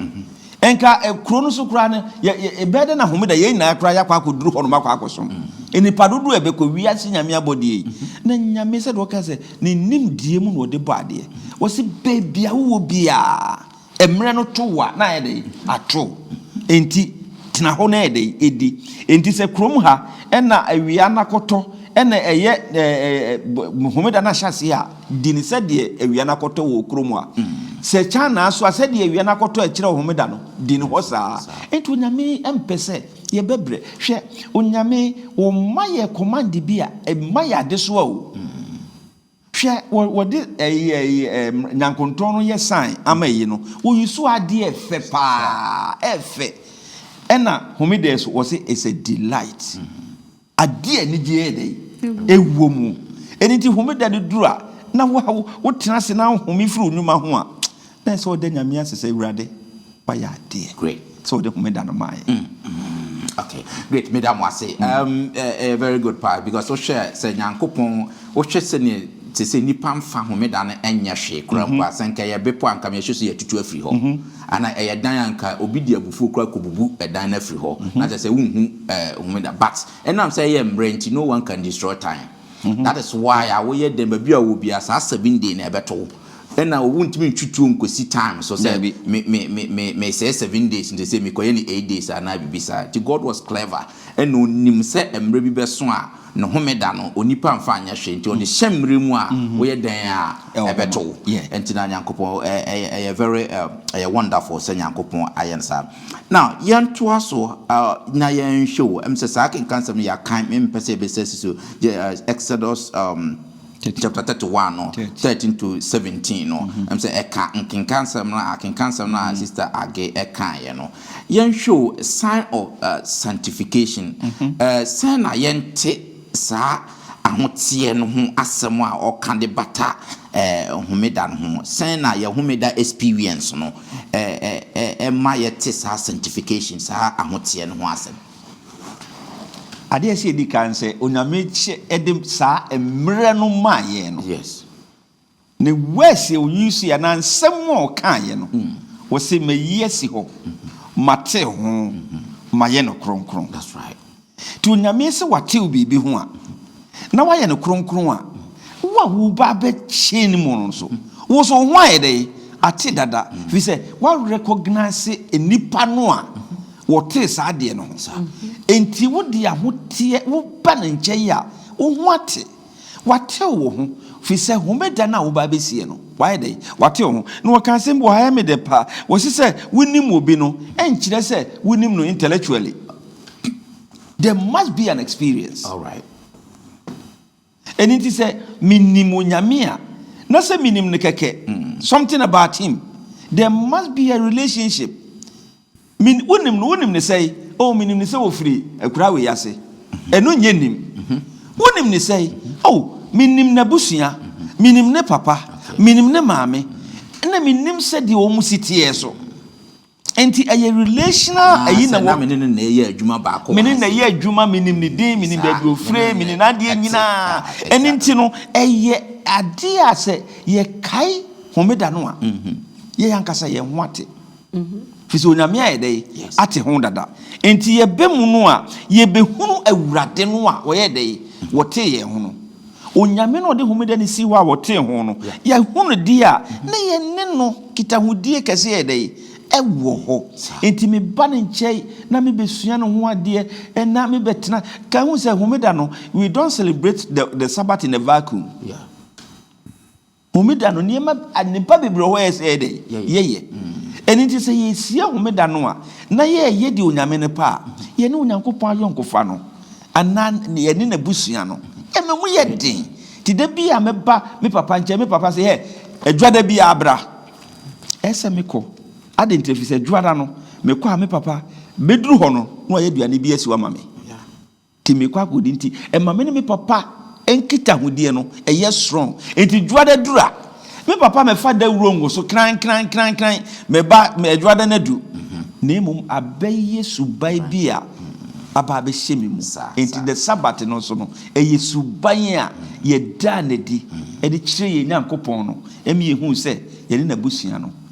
Nka kuro no so koraa no, ɛbɛyɛ dɛn na homeda yɛn nyinaa koraa yɛakɔ akɔduru hɔnom akɔ akɔsom? Nnipa dodoɔ a ɛbɛkɔ wiase Nyame abɔdeɛ yi. Na Nyame sɛdeɛ ɔka sɛ ne nimdeɛ mu na ɔde bɔ adeɛ. Ɔse baabi a wowɔ biara. Mmerɛ no to wo a, na ayɛ dɛn? Ato. Enti tena hɔ na yɛ dɛn? Di. Enti sɛ kurom ha na awia no akɔtɔ na ɛyɛ homeda no ahyɛ aseɛ a, di no sɛdeɛ awia no akɔtɔ wɔ kurom a. Sɛ China nso a, sɛdeɛ awia no akɔtɔ a ɛkyerɛ homeda no, di no hɔ saa. Enti Onyame mpɛ sɛ yɛbɛbrɛ. Hwɛ, Onyame, Woma yɛ command bi a, ɛma yɛ adesoa o. Hwɛ, wɔ, wɔde ɛyi, ɛyi, ɛm, nyankontɔn no yɛ sign ama ɛyi no. Wɔyi so adeɛ ɛfɛ paa, ɛfɛ. Ɛna homedɛɛ so, wɔse it's a delight. Adeɛ anigyeɛ yɛ dɛn? Ɛwɔ mu. Ɛno nti homeda no duru a, na wo, wotena ase na ahome firi wo nnwuma ho a, Na ɛsɛ sɛ ɔda Nyame ase sɛ Awurade wayɛ adeɛ sɛ ɔde homeda no maeɛ. Mm, mm, ok, great, meda mo ase. Mm. Um, eh, eh, very good pa, because wohwɛ sɛ Nyankopɔn, wohwɛ sɛ ne te sɛ nipa mfa homeda no ɛnyɛ hwee kora mpo a, sɛ nka ɛyɛ bepɔ a nka meyɛhwɛ so yɛtutu afiri hɔ, ana ɛyɛ dan a nka obi de abufuo kora kɔbubu ɛdan no afiri hɔ, na kyɛ sɛ wonhu eh, homeda, but ɛnam sɛ ɛyɛ mmerɛ nti, no one can destroy time. that is why a woyɛ dɛn baabi a ɔwɔ biara saa seven day na ɛbɛto wo ɛna wontumi ntwi tuo nkɔsi time so sɛ Dabi. me me me me mesɛɛ seven days nti sɛ mekɔyɛ no eight days anaa biribi saa nti God was clever ɛna ɔnim sɛ mmerɛ bi bɛso a ne homeda no onipa mfa nyɛ hwee nti ɔde hyɛ mmerɛ mu a woyɛ dɛn a Ɛwɔ hɔ ɛbɛto ma- wo yeah. ɛnti na Nyankopɔn ɛ ɛyɛ ɛyɛ very ɛ ɛyɛ wonderful sɛ Nyankopɔn ayɛ no saa. Now yɛntoa so uh, na yɛnhwɛ o. Ɛm sɛ saa kenkan sɛm no yɛakan, mempɛ sɛ yɛbɛsɛ si so. Uh, Exodus um, chapter 31 no, 13 to 17 no. Mm-hmm. Ɛm sɛ ɛka nkenkan sɛm no a, kenkan sɛm no a mm-hmm. Sister Age ɛkaeɛ no. Yɛnhwɛ o, sign of uh, sanctification. Mm-hmm. Uh, sɛn na yɛnte saa ahoteɛ no ho asɛm a ɔka de bata homeda no ho. Sɛn na yɛ homeda experience no ma yɛte saa sanctification, saa ahoteɛ no ho asɛm? Adeɛ a ɛsɛ yɛdi kan sɛ Onyame de saa mmerɛ no maa yɛn no, Ne words a ɔyuusuiɛ anaa nsɛm a ɔkaeɛ no, ɔse, Mayi asi hɔ, matew ho, mayɛ no kronkron. Nti Onyame se watew biribi ho a, na wayɛ no kronkron a, wo a woreba abɛ change mu no nso, wo nso wo ho ayɛ dɛn? Ate dada. Firi sɛ wa recognise nnipa no a wɔtee saa adeɛ no ho. Nti wode ahoteɛ, woba ne nkyɛn a, wo ho ate. Watew wo ho, firi sɛ Homeda no a wobaa bɛsiiɛ no, wayɛ dɛn? Watew wo ho. Na wɔka asɛm bi wɔ ha a ɛyɛ me dɛ paa, wɔse sɛ wonim obi no, ɛnkyerɛ sɛ wonim no intellectually. There must be an experience. Alright. Ɛno nti sɛ menim Onyame a, na sɛ menim no kɛkɛ, something about him, there must be a relationship. Me, wonim no, wonim no sɛe? Oh, menim no sɛ ofiri akuraa wei ase. Ɛno nyɛ nnim. Wonim no sɛe? Oh, menim n'abusua. Menim ne papa. Menim ne maame. Ɛna menim sɛdeɛ wɔn si teɛ so. Enti ɛyɛ relational Ah, ayi na sɛ na wɔ. me ne no na ɛyɛ adwuma baako Me wɔ ne ha na sɛ. ɛyɛ adwuma, menim ne din, menim Saa, baabi a me ofire, ne no menim na n'adeɛ ɛte. nyinaa. Ah, ɛte Ɛno saa. nti no, ɛyɛ adeɛ a sɛ yɛkae Homeda no a, yɛn ankasa yɛn ho ate. Firi sɛ Onyame ayɛ dɛ ate ho dada. Enti yɛba mu no a, yɛbɛhunu Awurade no a wɔyɛɛ dɛ wɔtee yɛn ho no. Onyame no a ɔde homeda no sii hɔ a wɔtee ho no, yɛahu no deɛ a, na yɛne no nkitahodie kɛse yɛ dɛ? Ɛwɔ hɔ. Enti meba ne nkyɛn na mebɛsua ne ho adeɛ na mebɛtena. Ka hu sɛ homeda no, we don't celebrate the the Sabbath in a vacuum. Homeda no, nneɛma adepa bebree wɔ hɔ a ɛsɛ sɛ yɛyɛ dɛn? Yɛyɛ. Ɛno nti, sɛ yɛrehyia Homeda no a, na yɛreyɛ deɛ Onyame no pɛ a, yɛne Onyankopɔn ayɔnkofa no, anaa yɛne N'abusua no, ɛma mu yɛ den. Nti da bi a mɛba me papa nkyɛn, me papa se, Hɛ, Dwoada biara bra. Ɛsɛ sɛ mekɔ. Adɛn nti? Ɛfiri sɛ Dwoada no, mekɔ a, me papa bɛduru hɔ no, na wayɛ aduane bi asi hɔ ama me. Nti mekɔ akɔdi nti ɛma me ne me papa nkitahodie no ɛyɛ strong nti dwoada duru a me papa mɛfa dawuro ngo so kran kran kran kran mɛba dwoada no adu na mmom abɛyɛ suban bi a aba abɛhyɛ me mu nti the sabbath no nso no ɛyɛ suban a yɛdaa no adi de kyerɛ yɛn Nyankopɔn no ɛma yɛhuu sɛ yɛne n'abusua no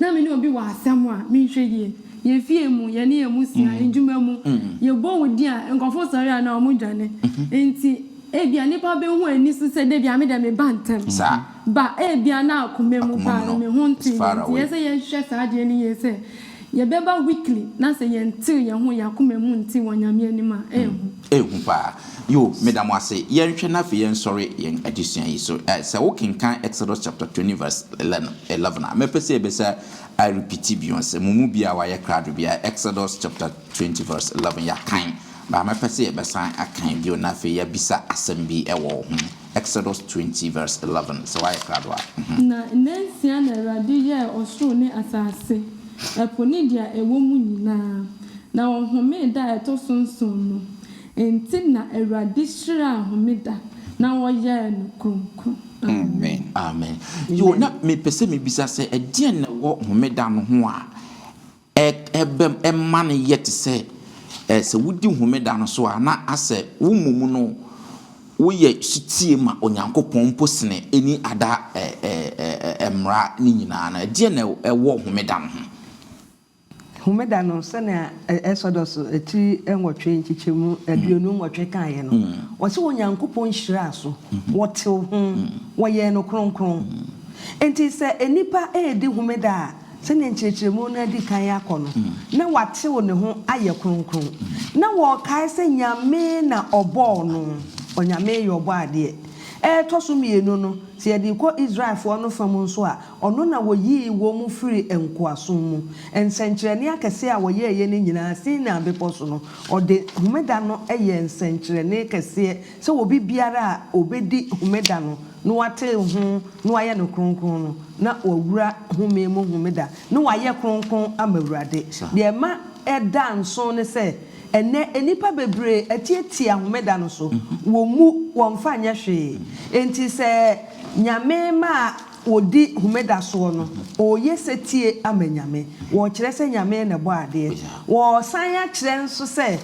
Na me ne obi wɔ asɛm a, menhwɛ yie. Yɛn fie mu, yɛne yɛn mmusua, adwuma mu, yɛbɔ wo din a, nkurɔfoɔ sɔre a, na wɔdwane. Enti ebia nnipa bɛhu ani so sɛ da bi a me deɛ meba ntɛm. Ba ebia na akoma mu paa no, me ho ntoo yɛn. Enti ɛsɛ sɛ yɛhwɛ saa adeɛ no yie sɛ yɛbɛba weekly na sɛ yɛntew yɛn ho, yɛn akoma mu nte wɔ Nyame anim a, ɛyɛ hu. Ehu paa. Yo, meda mo ase. Yɛnhwɛ na afei yɛnsɔre yɛn adesua yi so. Ɛ, sɛ wokenkan Exodus chapter twenty verse eleven, eleven a, mɛpɛ sɛ yɛbɛsa arepiti bio. Sɛ mo mu bi a wayɛ krado bi a, Exodus chapter twenty verse eleven, yɛakan, baa mɛpɛ sɛ yɛbɛsan akan bio na afei yɛabisa asɛm bi wɔ ho. Exodus twenty verse eleven, sɛ woayɛ krado a. Na nnansia na Awurade yɛɛ ɔsoro ne asase, ɛpo ne deɛ ɛwɔ mu nyinaa, na ɔhomee da a ɛtɔ so nson no. Enti na Awurade hyiraa homeda, na ɔyɛɛ no kronkron. Amen. Amen. Yo, na mepɛ sɛ mebisa sɛ, ɛdeɛn na ɛwɔ homeda no ho a. Ɛbɛ ɛma no yɛ te sɛ ɛ sɛ wodi Homeda no so a, na asɛ wo mmom no woyɛ sotie ma Onyankopɔn mpo sene ɛni ada ɛ ɛ ɛ mmara no nyinaa no. Ɛdeɛn na ɛwɔ Homeda no ho? Homeda no, sɛnea Ɛsɔdɔs tiri nwɔtwe nkyekyɛmu aduonu nwɔtwe kaeɛ no, wɔse Onyankopɔn hyiraa so, wɔtew ho, wɔyɛɛ no kronkron. Enti sɛ nnipa redi Homeda a, sɛnea nkyerɛkyerɛmu no adi kan akɔ no, na watew ne ho ayɛ kronkron. Ná wɔkae sɛ Nyame na ɔbɔɔ no, Onyame yɛ Ɔbɔadeɛ. Ɛtɔ so mmienu no, sɛ yɛde kɔ Israelfo no fã mu nso a, ɔno na oyii wɔn firii nkoasom mu. Nsɛnkyerɛnne akɛse a wɔyɛeɛ no nyinaa, Sinai Bepɔ so no, wɔde Homeda no yɛɛ nsɛnkyerɛnne kɛseɛ sɛ obi biara a obedi Homeda no na wɔatew ho na wɔayɛ no kronkron no, na wɔawura home mu Homeda, na wɔayɛ kronkron ama Awurade. Nea ɛma ɛda nsow ne sɛ, ɛnnɛ nnipa bebree atiatia Homeda no so, wommu, wɔmfa nyɛ hwee. Enti sɛ Nyame ma wɔdi Homeda soɔ no, wɔreyɛ setie ama Nyame, wɔrekyerɛ sɛ Nyame na ɛbɔɔ adeɛ. Wɔresan akyerɛ nso sɛ,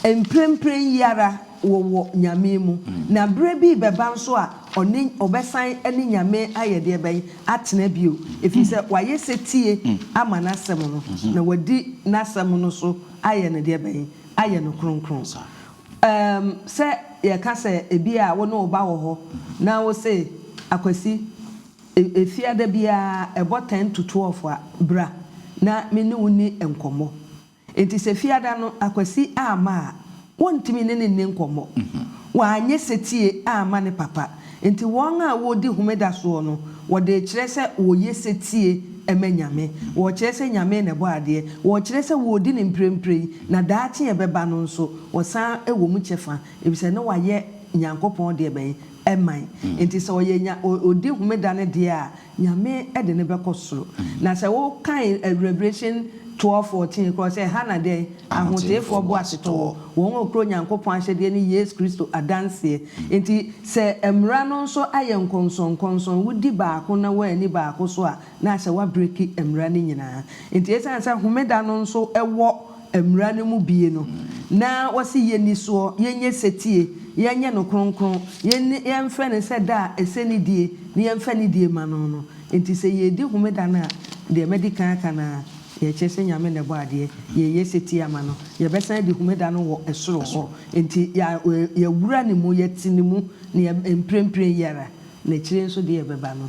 mprempren yi ara, wɔwɔ Nyame mu, na berɛ bi rebɛba nso a ɔne, ɔbɛsan ne Nyame ayɛ deɛ bɛn? Atena bio, ɛfiri sɛ wayɛ setie ama N'asɛm no, na wadi N'asɛm no so ayɛ no deɛ bɛn? Ayɛ no kronkron. Ɛɛm, sɛ yɛka sɛ ebia wo ne wo ba wɔ hɔ na wose, Akwasi, e, Efiada biara ɛbɔ ten to twelve a, bra na me ne wo nni nkɔmmɔ. Enti sɛ Fiada no Akwasi amma a, wontumi ne no nni nkɔmmɔ. Wanyɛ setie amma ne papa. Enti wɔn a wɔdi Homeda soɔ no, wɔde rekyerɛ sɛ wɔyɛ setie ma Nyame. Wɔrekyerɛ sɛ Nyame na ɛbɔ adeɛ. Wɔrekyerɛ sɛ wɔredi no mprempren, na daakye a ɛbɛba no nso, wɔsan wɔ mu kyɛfa, efisɛ na wɔayɛ Nyankopɔn deɛ bɛn? Ɛman. Enti sɛ ɔyɛ Nya, ɔdi Homeda no deɛ a, Nyame de no bɛkɔ soro. Na sɛ wokan Revelation twelve fourteen korɔ sɛ ɛha na dɛn? Ahoteefoɔ boasetɔɔ, wɔn a wɔkura Onyankopɔn ahyɛdeɛ ne Yesu Kristo adanseɛ. Enti sɛ mmara no nso ayɛ nkɔnsɔnkɔnsɔn, wodi baako na woanni baako so a, na ahyɛ woabreki mmara no nyinaa. Enti ɛsiane sɛ homeda no nso wɔ. Mmara no mu bie no, na wɔse yɛnni soɔ, yɛnyɛ setie, yɛnyɛ no kronkron, yɛnni, yɛmfrɛ no sɛ da a ɛsɛ ne die, na yɛmfa ne die ma no no. Enti sɛ yɛredi homeda no a, deɛ madi kan aka no ara, yɛkyerɛ sɛ Nyame na ɛbɔɔ adeɛ, yɛreyɛ setie ama no, yɛbɛsan adi homeda no wɔ soro hɔ, enti yɛawura ne mu, yɛte ne mu, na mprempren yi ara, na akyire nso deɛ ɛbɛba no,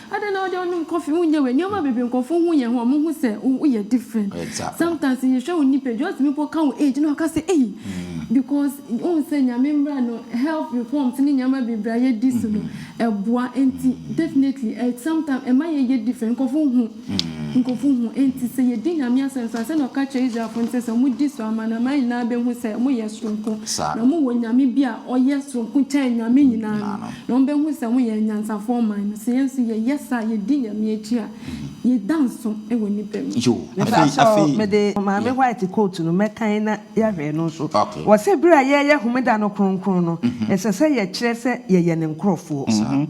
Adɛn na wode wonom coffee wonyɛ wei nneɛma bebree nkurɔfo hu yɛn ho a wɔn hu sɛ oh woyɛ different sometimes yɛhwɛ wo nipadua wotumi mpo ka wo age na waka sɛ ei because wohu sɛ Nyame mmra no health reforms ne nneɛma bebree a yɛdi so no ɛboa enti definitely ɛ sometimes ɛma yɛyɛ different nkurɔfo hu nkurɔfo hu enti sɛ yɛdi Nyame asɛm so a sɛnea ɔka kyerɛɛ Israelfo no sɛ sɛ wɔn di so a amanaman nyinaa bɛhu sɛ wɔyɛ soronko na wɔwɔ Nyame bi a ɔyɛ soronko kyɛn Nyame nyinaa no. Na wɔbɛhu sɛ woyɛ anyansafoɔ man no, sɛ yɛn nso yɛyɛ saa, yɛdi Nyame akyi a, yɛda nso wɔ nnipa mu. Yo, afei, Mepakyɛw afei. mede Maame Yeah. White quote no mɛkan na yɛahwɛ ɛno nso. Okay. Wɔse bere a yɛreyɛ Homeda no kronkron no, ɛsɛ sɛ yɛkyerɛ sɛ yɛyɛ ne nkurɔfoɔ. Saa.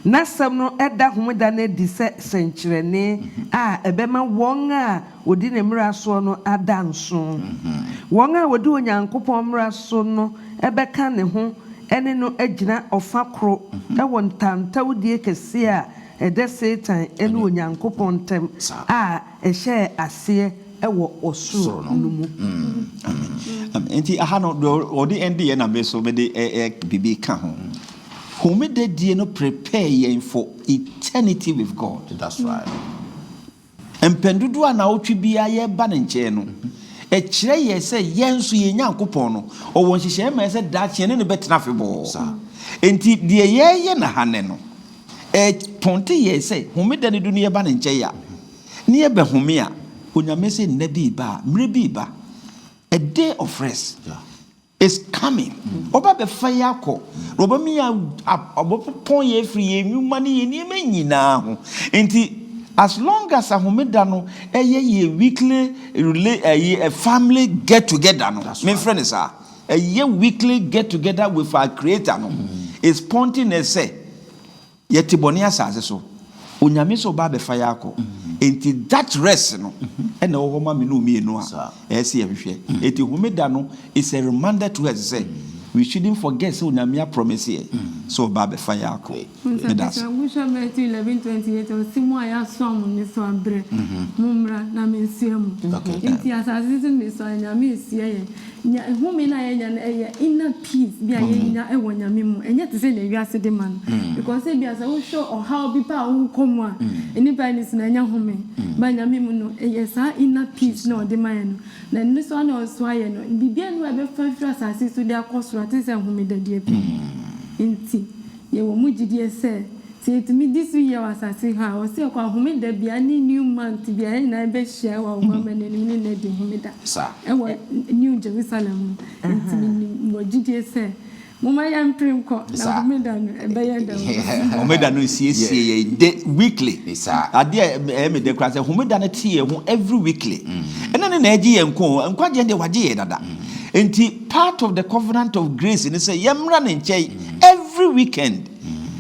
N'asɛm no da Homeda no adi sɛ sɛnkyerɛnne a ɛbɛma wɔn a wɔdi ne mmara soɔ no ada nso. Wɔn a wɔdi Onyankopɔn mmara so no bɛka ne ho ne no agyina ɔfã koro wɔ ntawntawdie kɛseɛ a ɛda Satan ne Onyankopɔn ntam a ɛhyɛɛ aseɛ wɔ ɔsoro no mu. Enti aha no, deɛ ɔde ɛndeɛ na me so mede biribi ka ho. Homeda die no prepare yɛn for eternity with God. Mpɛn dodoɔ a naawɔtwe biara yɛba Ne nkyɛn no, ɛkyerɛ yɛn sɛ yɛn nso yɛn Nyankopɔn no, Ɔwɔ nhyehyɛeɛ ma yɛn sɛ daakye yɛne No bɛtena afebɔɔ. Enti deɛ yɛreyɛ no ha nnɛ no, ɛpɔnte yɛn sɛ Homeda no du no yɛba Ne nkyɛn a, na yɛbɛhome a, Onyame se nna bi reba a, mmerɛ bi reba, a day of rest. Is coming, ɔba bɛfa yɛ akɔ, na ɔbɛma yɛ ɔbɛpɔn yɛ afiri yɛ nnwuma ne yɛ nneɛma nyinaa ho. Nti as long as ahomeda no ɛyɛ yɛ weekly rela ɛyi family get together no, me nfrɛ no saa, ɛyɛ weekly get together with our creator no, is pointing us sɛ Yɛte bɔne asase so. Onyame nso reba abɛfa yɛ akɔ. Enti that rest no na ɛwɔ hɔ ma me ne wo mmienu a ɛyɛ sɛ yɛhwehwɛ. Enti Homeda no is a reminder to us sɛ we shouldn't forget sɛ Onyame a promise yɛ sɛ ɔba abɛfa yɛ akɔ. Meda ase. Nsɛnkyerɛw Nwoswa Matthew eleven twenty eight ɔse mo a yɛasoa mo nnesoa brɛ, mommra na mensoa mu. Enti asase so nnesoa no Nyame resoa yɛn. Nea home no a yɛnya no ɛyɛ inner. Peace bi a yenya wɔ Nyame mu, ɛnyɛ te sɛnea wiase de ma no. Because ebia sɛ wohwɛ ɔhaw bi pɛ a wokɔ mu a, nnipa ani so no ɛnyɛ home. But Nyame mu no, ɛyɛ saa inner peace no a Ɔde ma yɛn no. Na ɛno nso ara na ɔsoa yɛn no. Biribiara nni hɔ a ɛbɛfa afiri asase so de akɔ soro a te sɛ homeda deɛ bi. Enti yɛwɔ mu gyidie sɛ, sɛ yɛtumi di so yie wɔ asase ha a, Ɔse yɛkɔ a, homeda biara ne new month biara yɛn nyinaa bɛhyia wɔ Awomammrɛ no anim ne no adi homeda wɔ New Jerusalem mu. Enti minim wɔ gyidie sɛ. Momma yɛmpere nkɔ, na Homeda no, ɛbɛyɛ dɛn wɔ ha? Homeda no nsiesie yɛn dɛ weekly. Adeɛ a ɛyɛ me dɛ koraa sɛ Homeda no te yɛn ho every weekly. Ɛnna no na ɛregye yɛn nko o, nkwa gyeɛ deɛ wɔagye yɛn dada. Enti part of the covenant of grace ne sɛ yɛmmra ne nkyɛn every weekend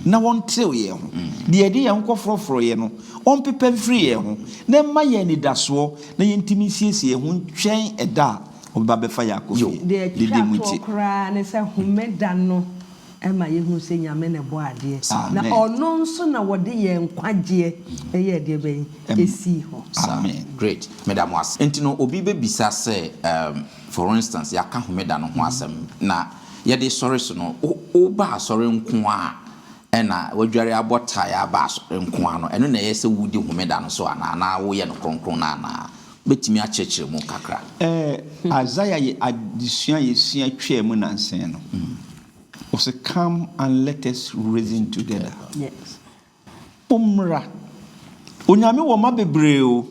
na wɔntew yɛn ho. Deɛ yɛde yɛn ho kɔforɔforɔeɛ no, wɔmpepa mfiri yɛn ho na ɛmma yɛn anidasoɔ na yɛntumi nsiesie yɛn ho ntwɛn ɛda a Wobɛba abɛfa yɛn akɔ fie. Deɛ ɛtwa toɔ koraa ne sɛ Homeda no ma yɛhunu sɛ Nyame na ɛbɔɔ adeɛ, na Ɔno nso na ɔde yɛn nkwagyeɛ bɛyɛɛ deɛ bɛn? Ɛsii hɔ. Amen. Great. Meda mo ase. Nti no, obi bɛbisa sɛ, um, for instance, yɛaka Homeda no ho asɛm, na yɛde sɔre so no, wo, wobaa sɔre nko ara a, Ɛna wadware abɔ tae aba so nko ara no, ɛno na ɛyɛ sɛ wudi Homeda no so anaa? Anaa woyɛ no kronkron no anaa? Wobɛtumi akyerɛkyerɛ mu kakra? Ɛɛ, Isaiah yɛ adesua a yɛsua twaa mu nnansa yi no. Ɔse, Come and let us reason together. Mommra. Onyame wɔ mma bebree o.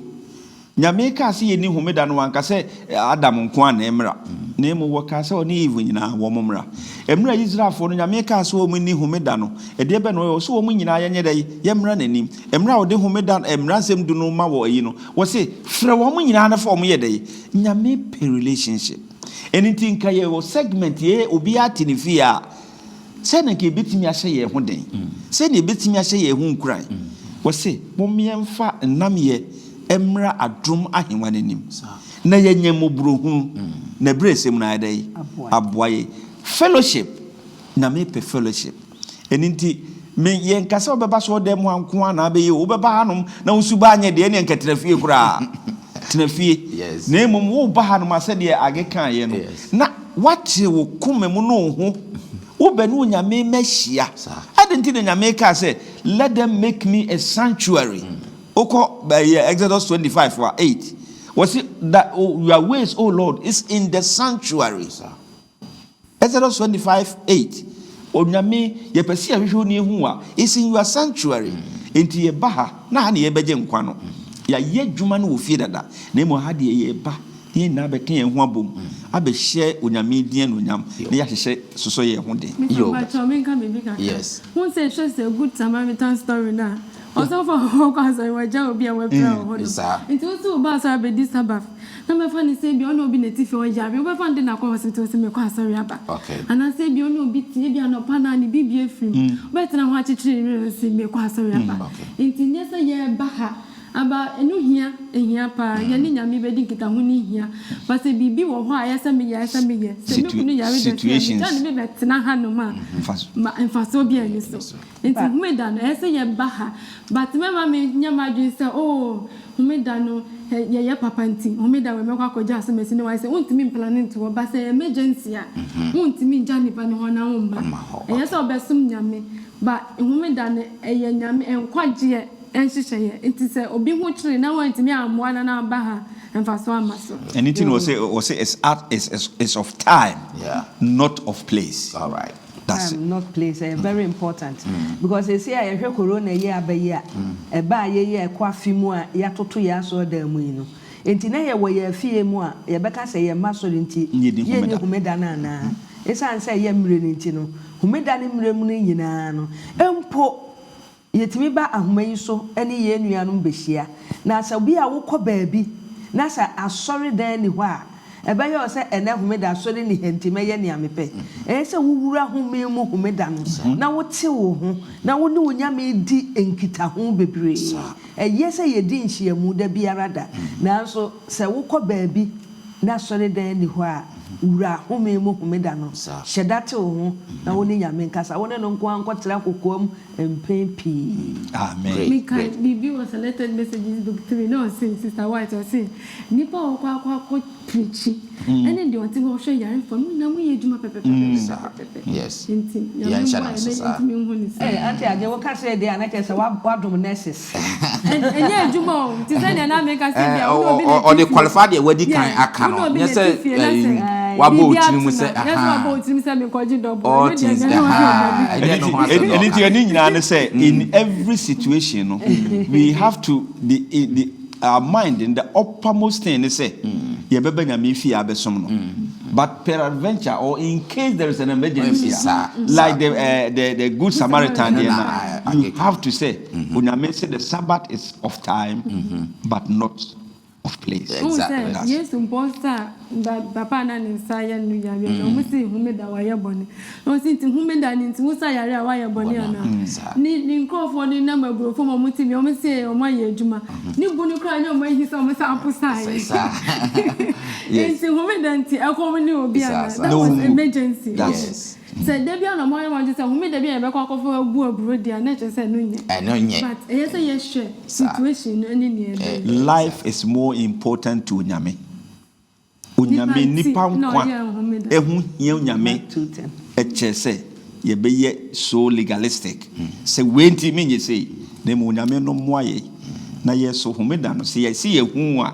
Nyame kaa sɛ yɛnni homeda no wanka sɛ Adam nkoaa na ɛmmra na mmom wɔkaa sɛ ɔne Eve nyinaa wɔn mmra. Ɛmerɛ Israelfoɔ no Nyame kaa sɛ wɔn nni homeda no ɛdeɛ bɛn na wɔyɛ ɔse wɔn nyinaa yɛnyɛ dɛn yɛmmra n'anim. Ɛmerɛ a ɔde homeda mmransɛm du no ma wɔ ayi no ɔse frɛ wɔn nyinaa na fa wɔn yɛ dɛn Nyame pɛ relationship. Ɛno nti nka yɛwɔ segment yɛ obiara te ne fie a Sɛn na anka yebetumi ahyɛ yɛn ho den? Sɛn na yebetumi ahyɛ yɛn ho nkuran? Wɔse, Momma yɛmfa nnamyɛ mmra adom ahengua no anim, na yɛanya mmɔborɔhunu, na abiresɛm no ayɛ dɛn? Aboa yɛn. Fellowship, na mepɛ fellowship. Ɛno nti, me, yɛnka sɛ wobɛba asɔredan mu ha nko ara na abɛyɛ o, wobɛba hanom na wo suban anyɛ den, ɛnneɛ anka tra fie koraa. Tena fie, na mmom woreba hanom a, sɛdeɛ Age kaeɛ no, na woakyere wo koma mu ne wo ho, wobɛ ne Onyame mmɛhyia. Adɛn nti na Nyame kaa sɛ, Let them make me a sanctuary? Wokɔ ɛyɛ Exodus twenty five a eight, wɔse, Thy, your ways, O Lord, is in the sanctuary. Exodus twenty five eight, Onyame, yɛpɛ sɛ yɛhwehwɛ wo na yɛhu wo a, is in your sanctuary, enti yɛba ha, na ha na yɛbɛgye nkwa no. Yɛayɛ adwuma no wɔ fie dada, na mmom ha deɛ yɛreba na yɛn nyinaa abɛka yɛn ho abom, abɛhyɛ Onyame din anuonyam, na yɛahyehyɛ sosɔ yɛn ho den. Meka mpakyɛw menka biribi kakra. Yes. Wohu sɛ hwɛ sɛ good Samaritan story no a, ɔsɔfo a ɔkɔ asɔre, wagyaw obi a wapira wɔ hɔ no. Saa. Nti wo nso woba asɔre abɛdi Sabbath. Na mɛfa no sɛ ebia ɔne obi na ɛte fie ɔyare, wobɛfa no dɛn akɔ hospital sɛ mekɔ asɔre aba? Anaasɛ ebia ɔne obi te, ebia anɔpa no ara ne biribi afiri mu, wobɛtena hɔ akyekyere ne werɛ sɛ mekɔ asɔre aba? Enti nyɛ sɛ yɛreba ha aba, ɛno hia, ɛhia paa, yɛne Nyame bɛdi nkitaho no hia, but sɛ biribi wɔ hɔ a ɛyɛ sɛ meyɛ, ɛsɛ sɛ meyɛ, sɛ me kunu yare dɛn nti na megya no mebɛtena hanom a, mfasoɔ biara nni so. Nti Homeda no, ɛyɛ sɛ yɛba ha. But mɛma menyɛ m'adwene sɛ, oh, Homeda no, yɛyɛ papa nti, Homeda wei mɛkɔ akɔgya asɛmasi no. Wayɛ sɛ wontumi mplane nto hɔ. But sɛ ɛyɛ emergency a, wontumi ngya nnipa no hɔ na womma. Ɛyɛ sɛ wobɛsom Nyame. But Homeda no, ɛyɛ Nyame nkwagyeɛ nhyehyɛeɛ. Nti sɛ obi ho kyere na woantumi ammoa no na waba ha a, mfasoɔ amma so. Ɛno nti na wɔse, wɔse, it's of time, not of place. dase. Time not place ɛyɛ very important because seesei a yɛhwɛ corona yi a aba yi a ɛba a yei a ɛkɔ afe mu a yɛatoto yɛn asɔredan mu yi no nti na yɛwɔ yɛn afie mu a yɛbɛka sɛ yɛmma asɔre nti yɛnni homeda no anaa? Esiane sɛ ɛyɛ mmerɛ no nti no homeda ne mmerɛ mu no nyinaa no mpo Yɛtumi ba ahoma yi so ne yɛn nuanom bɛhyia. Na sɛ bi a wokɔ baabi na sɛ asɔredan nni hɔ a, ɛbɛyɛ wo sɛ ɛnnɛ homeda asɔre nni ha nti mɛyɛ nea mepɛ. Ɛyɛ sɛ wowura home mu homeda no na wotew wo ho na wo ne wo Nyame di nkitaho bebree. Ɛyɛ sɛ yɛdi nhyiamu da biara da, nanso sɛ wokɔ baabi na asɔredan nni hɔ a, wura home mu homeda no. Hyɛ da tew wo ho na wo ne Nyame nkasa. Wo ne no nko ara nkɔtra kokoam mpɛn pii. Amen. Meka biribi wɔ Selected Messages Book Three na ɔse, Sister White, ɔse, Nnipa a wɔkɔ akɔ akɔ preachi ɛne deɛ ɔte hɔ hwɛ yarefoɔ no nyinaa moyɛ adwuma pɛpɛpɛpɛpɛpɛpɛ nti Nyame mmoa yɛn na yɛntumi nhu no saa. Auntie Agye wo ka sei deɛ a na kyerɛ sɛ woadom nurses. Ɛnyɛ adwuma o, te sɛ nea na meka sɛ bia wo ne obi na ɛtu fie. Ɔde qualify deɛ wadi kan aka no, nyɛ sɛ wabɔ wo tirim sɛ ahaa. Nyɛ sɛ wabɔ wo tirim sɛ mekɔgye dɔbo. All things ahaa. Ɛnyɛ ne ho asɛm na ɔka. Ɛno nti ɛne nyinaa ne sɛ in every situation no we have to be in the our mind in the upper most thing ne sɛ yɛbɛba Nyame fie abɛsom no but peradventure or in case there is an emergency a like the the the good Samaritan deɛ no you have to say Onyame se the Sabbath is of time but not of place. Wohu sɛ Yesu mpɔs a papa a na ne nsa ayɛ no yareɛ no, ɔmo se homeda wayɛ bɔne. Na ɔse nti homeda no nti wo nsa yare a wayɛ bɔne anaa? Ne ne nkorɔfoɔ no nam aburoo fam a ɔmo te bia ɔmo se ɔmo ayɛ adwuma. Ne bu no koraa nyɛ ɔmo ahi sɛ ɔmo nsa apo saayɛ. Nti homeda nti ɛkɔm ne obi anaa? That was emergency. Sɛ da biara na ɔmo ayɛ mmɔden sɛ homeda bi a yɛbɛkɔ akɔfa agu aburo deɛ a na ɛkyerɛ sɛ ɛno nyɛ. Ɛno nyɛ. But ɛyɛ sɛ yɛhwɛ situation no ɛne nea ɛbɛyɛ. Life is more important to Onyame. Onyame nnipa nkwa ɛho hia Onyame ɛkyerɛ sɛ yɛbɛyɛ so legalistic sɛ wei nti menyɛ sei na mmom Onyame no mmoa yɛn na yɛso homeda no sɛ yɛse yɛhu a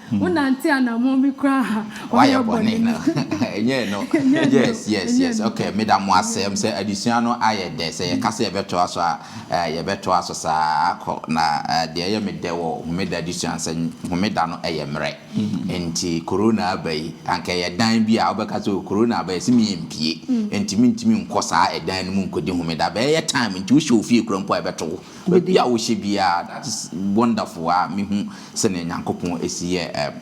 Wonante anammɔn bi koraa a, woayɛ bɔne no. Ɛnyɛ ɛno? Yes, yes, yes. Okay, meda mo ase. Ɛm sɛ adesua no ayɛ dɛ. Sɛ yɛka sɛ yɛbɛtoa so a, ɛɛ, yɛbɛtoa so saa ara akɔ. Na deɛ ɛyɛ me dɛ wɔ Homeda adesua no sɛ Homeda no yɛ mmerɛ. Enti Corona aba yi, anka ɛyɛ dan bi a wobɛka sɛ o, Corona aba, yɛse me yɛmpue. Enti mentumi nkɔ saa ɛdan no mu nkɔdi Homeda. Abɛɛyɛ time nti wohyɛ wo fie koraa mpo a ɛbɛto wo. Baabi a wohyɛ biara, that is wonderful a mehu. Sɛnea Nyankopɔn si yɛɛ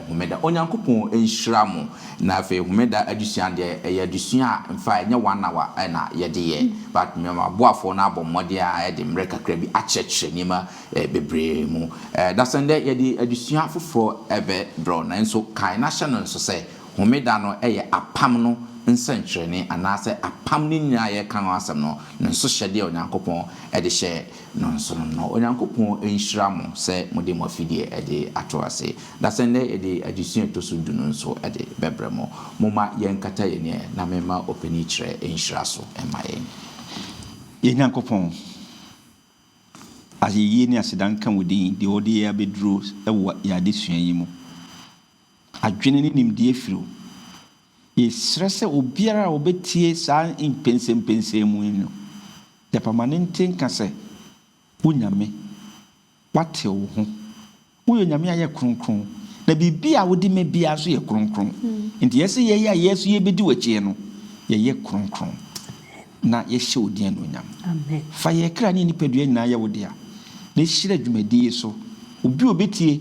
Homeda. Onyankopɔn nhyira mo. Na afei Homeda adesua deɛ, ɛyɛ adesua a in fact ɛnyɛ one hour na yɛde yɛ. But m'aboafoɔ no abɔ mmɔden a ɛde mmerɛ kakra bi akyerɛkyerɛ nneɛma bebree mu. Dasɛndɛ yɛde adesua foforɔ bɛ brɛ wo. Nanso kae na hyɛ no nso sɛ, Homeda no yɛ apam no nsɛnkyerɛnne anaasɛ apam no nyinaa a yɛreka ho asɛm no, ne nsohyɛdeɛ a Onyankopɔn de hyɛɛ no nso no, na Onyankopɔn nhyira mo sɛ mode mo afidie de ato ase, na sɛ nnɛ yɛde adesua a ɛtɔ so du no nso de bɛbrɛ mo. Momma yɛnkata yɛn ani na memma ɔpanin kyerɛ nhyira so mma yɛn. Yɛn Nyankopɔn, ayeyie ne aseda nka wo din, deɛ wode yɛn abɛduru wɔ yɛn adesua yi mu. Adwene ne nimdeɛ firi wo. Yɛsrɛ sɛ obiara a ɔbɛtie saa mpɛnsɛmpɛnsɛmu yi no, Gyapa ma ne nte nka sɛ wo Nyame, wate wo ho. Woyɛ Onyame a woyɛ kronkron, na biribi a wode ma biara nso yɛ kronkron. Enti yɛsrɛ yɛn a yɛn nso yɛbɛdi w'akyi no, yɛyɛ kronkron na yɛhyɛ wo din anuonyam. Fa yɛn kra ne yɛn nipadua nyinaa yɛ wo dea, na hyira dwumadie yi so obi a ɔbɛtie.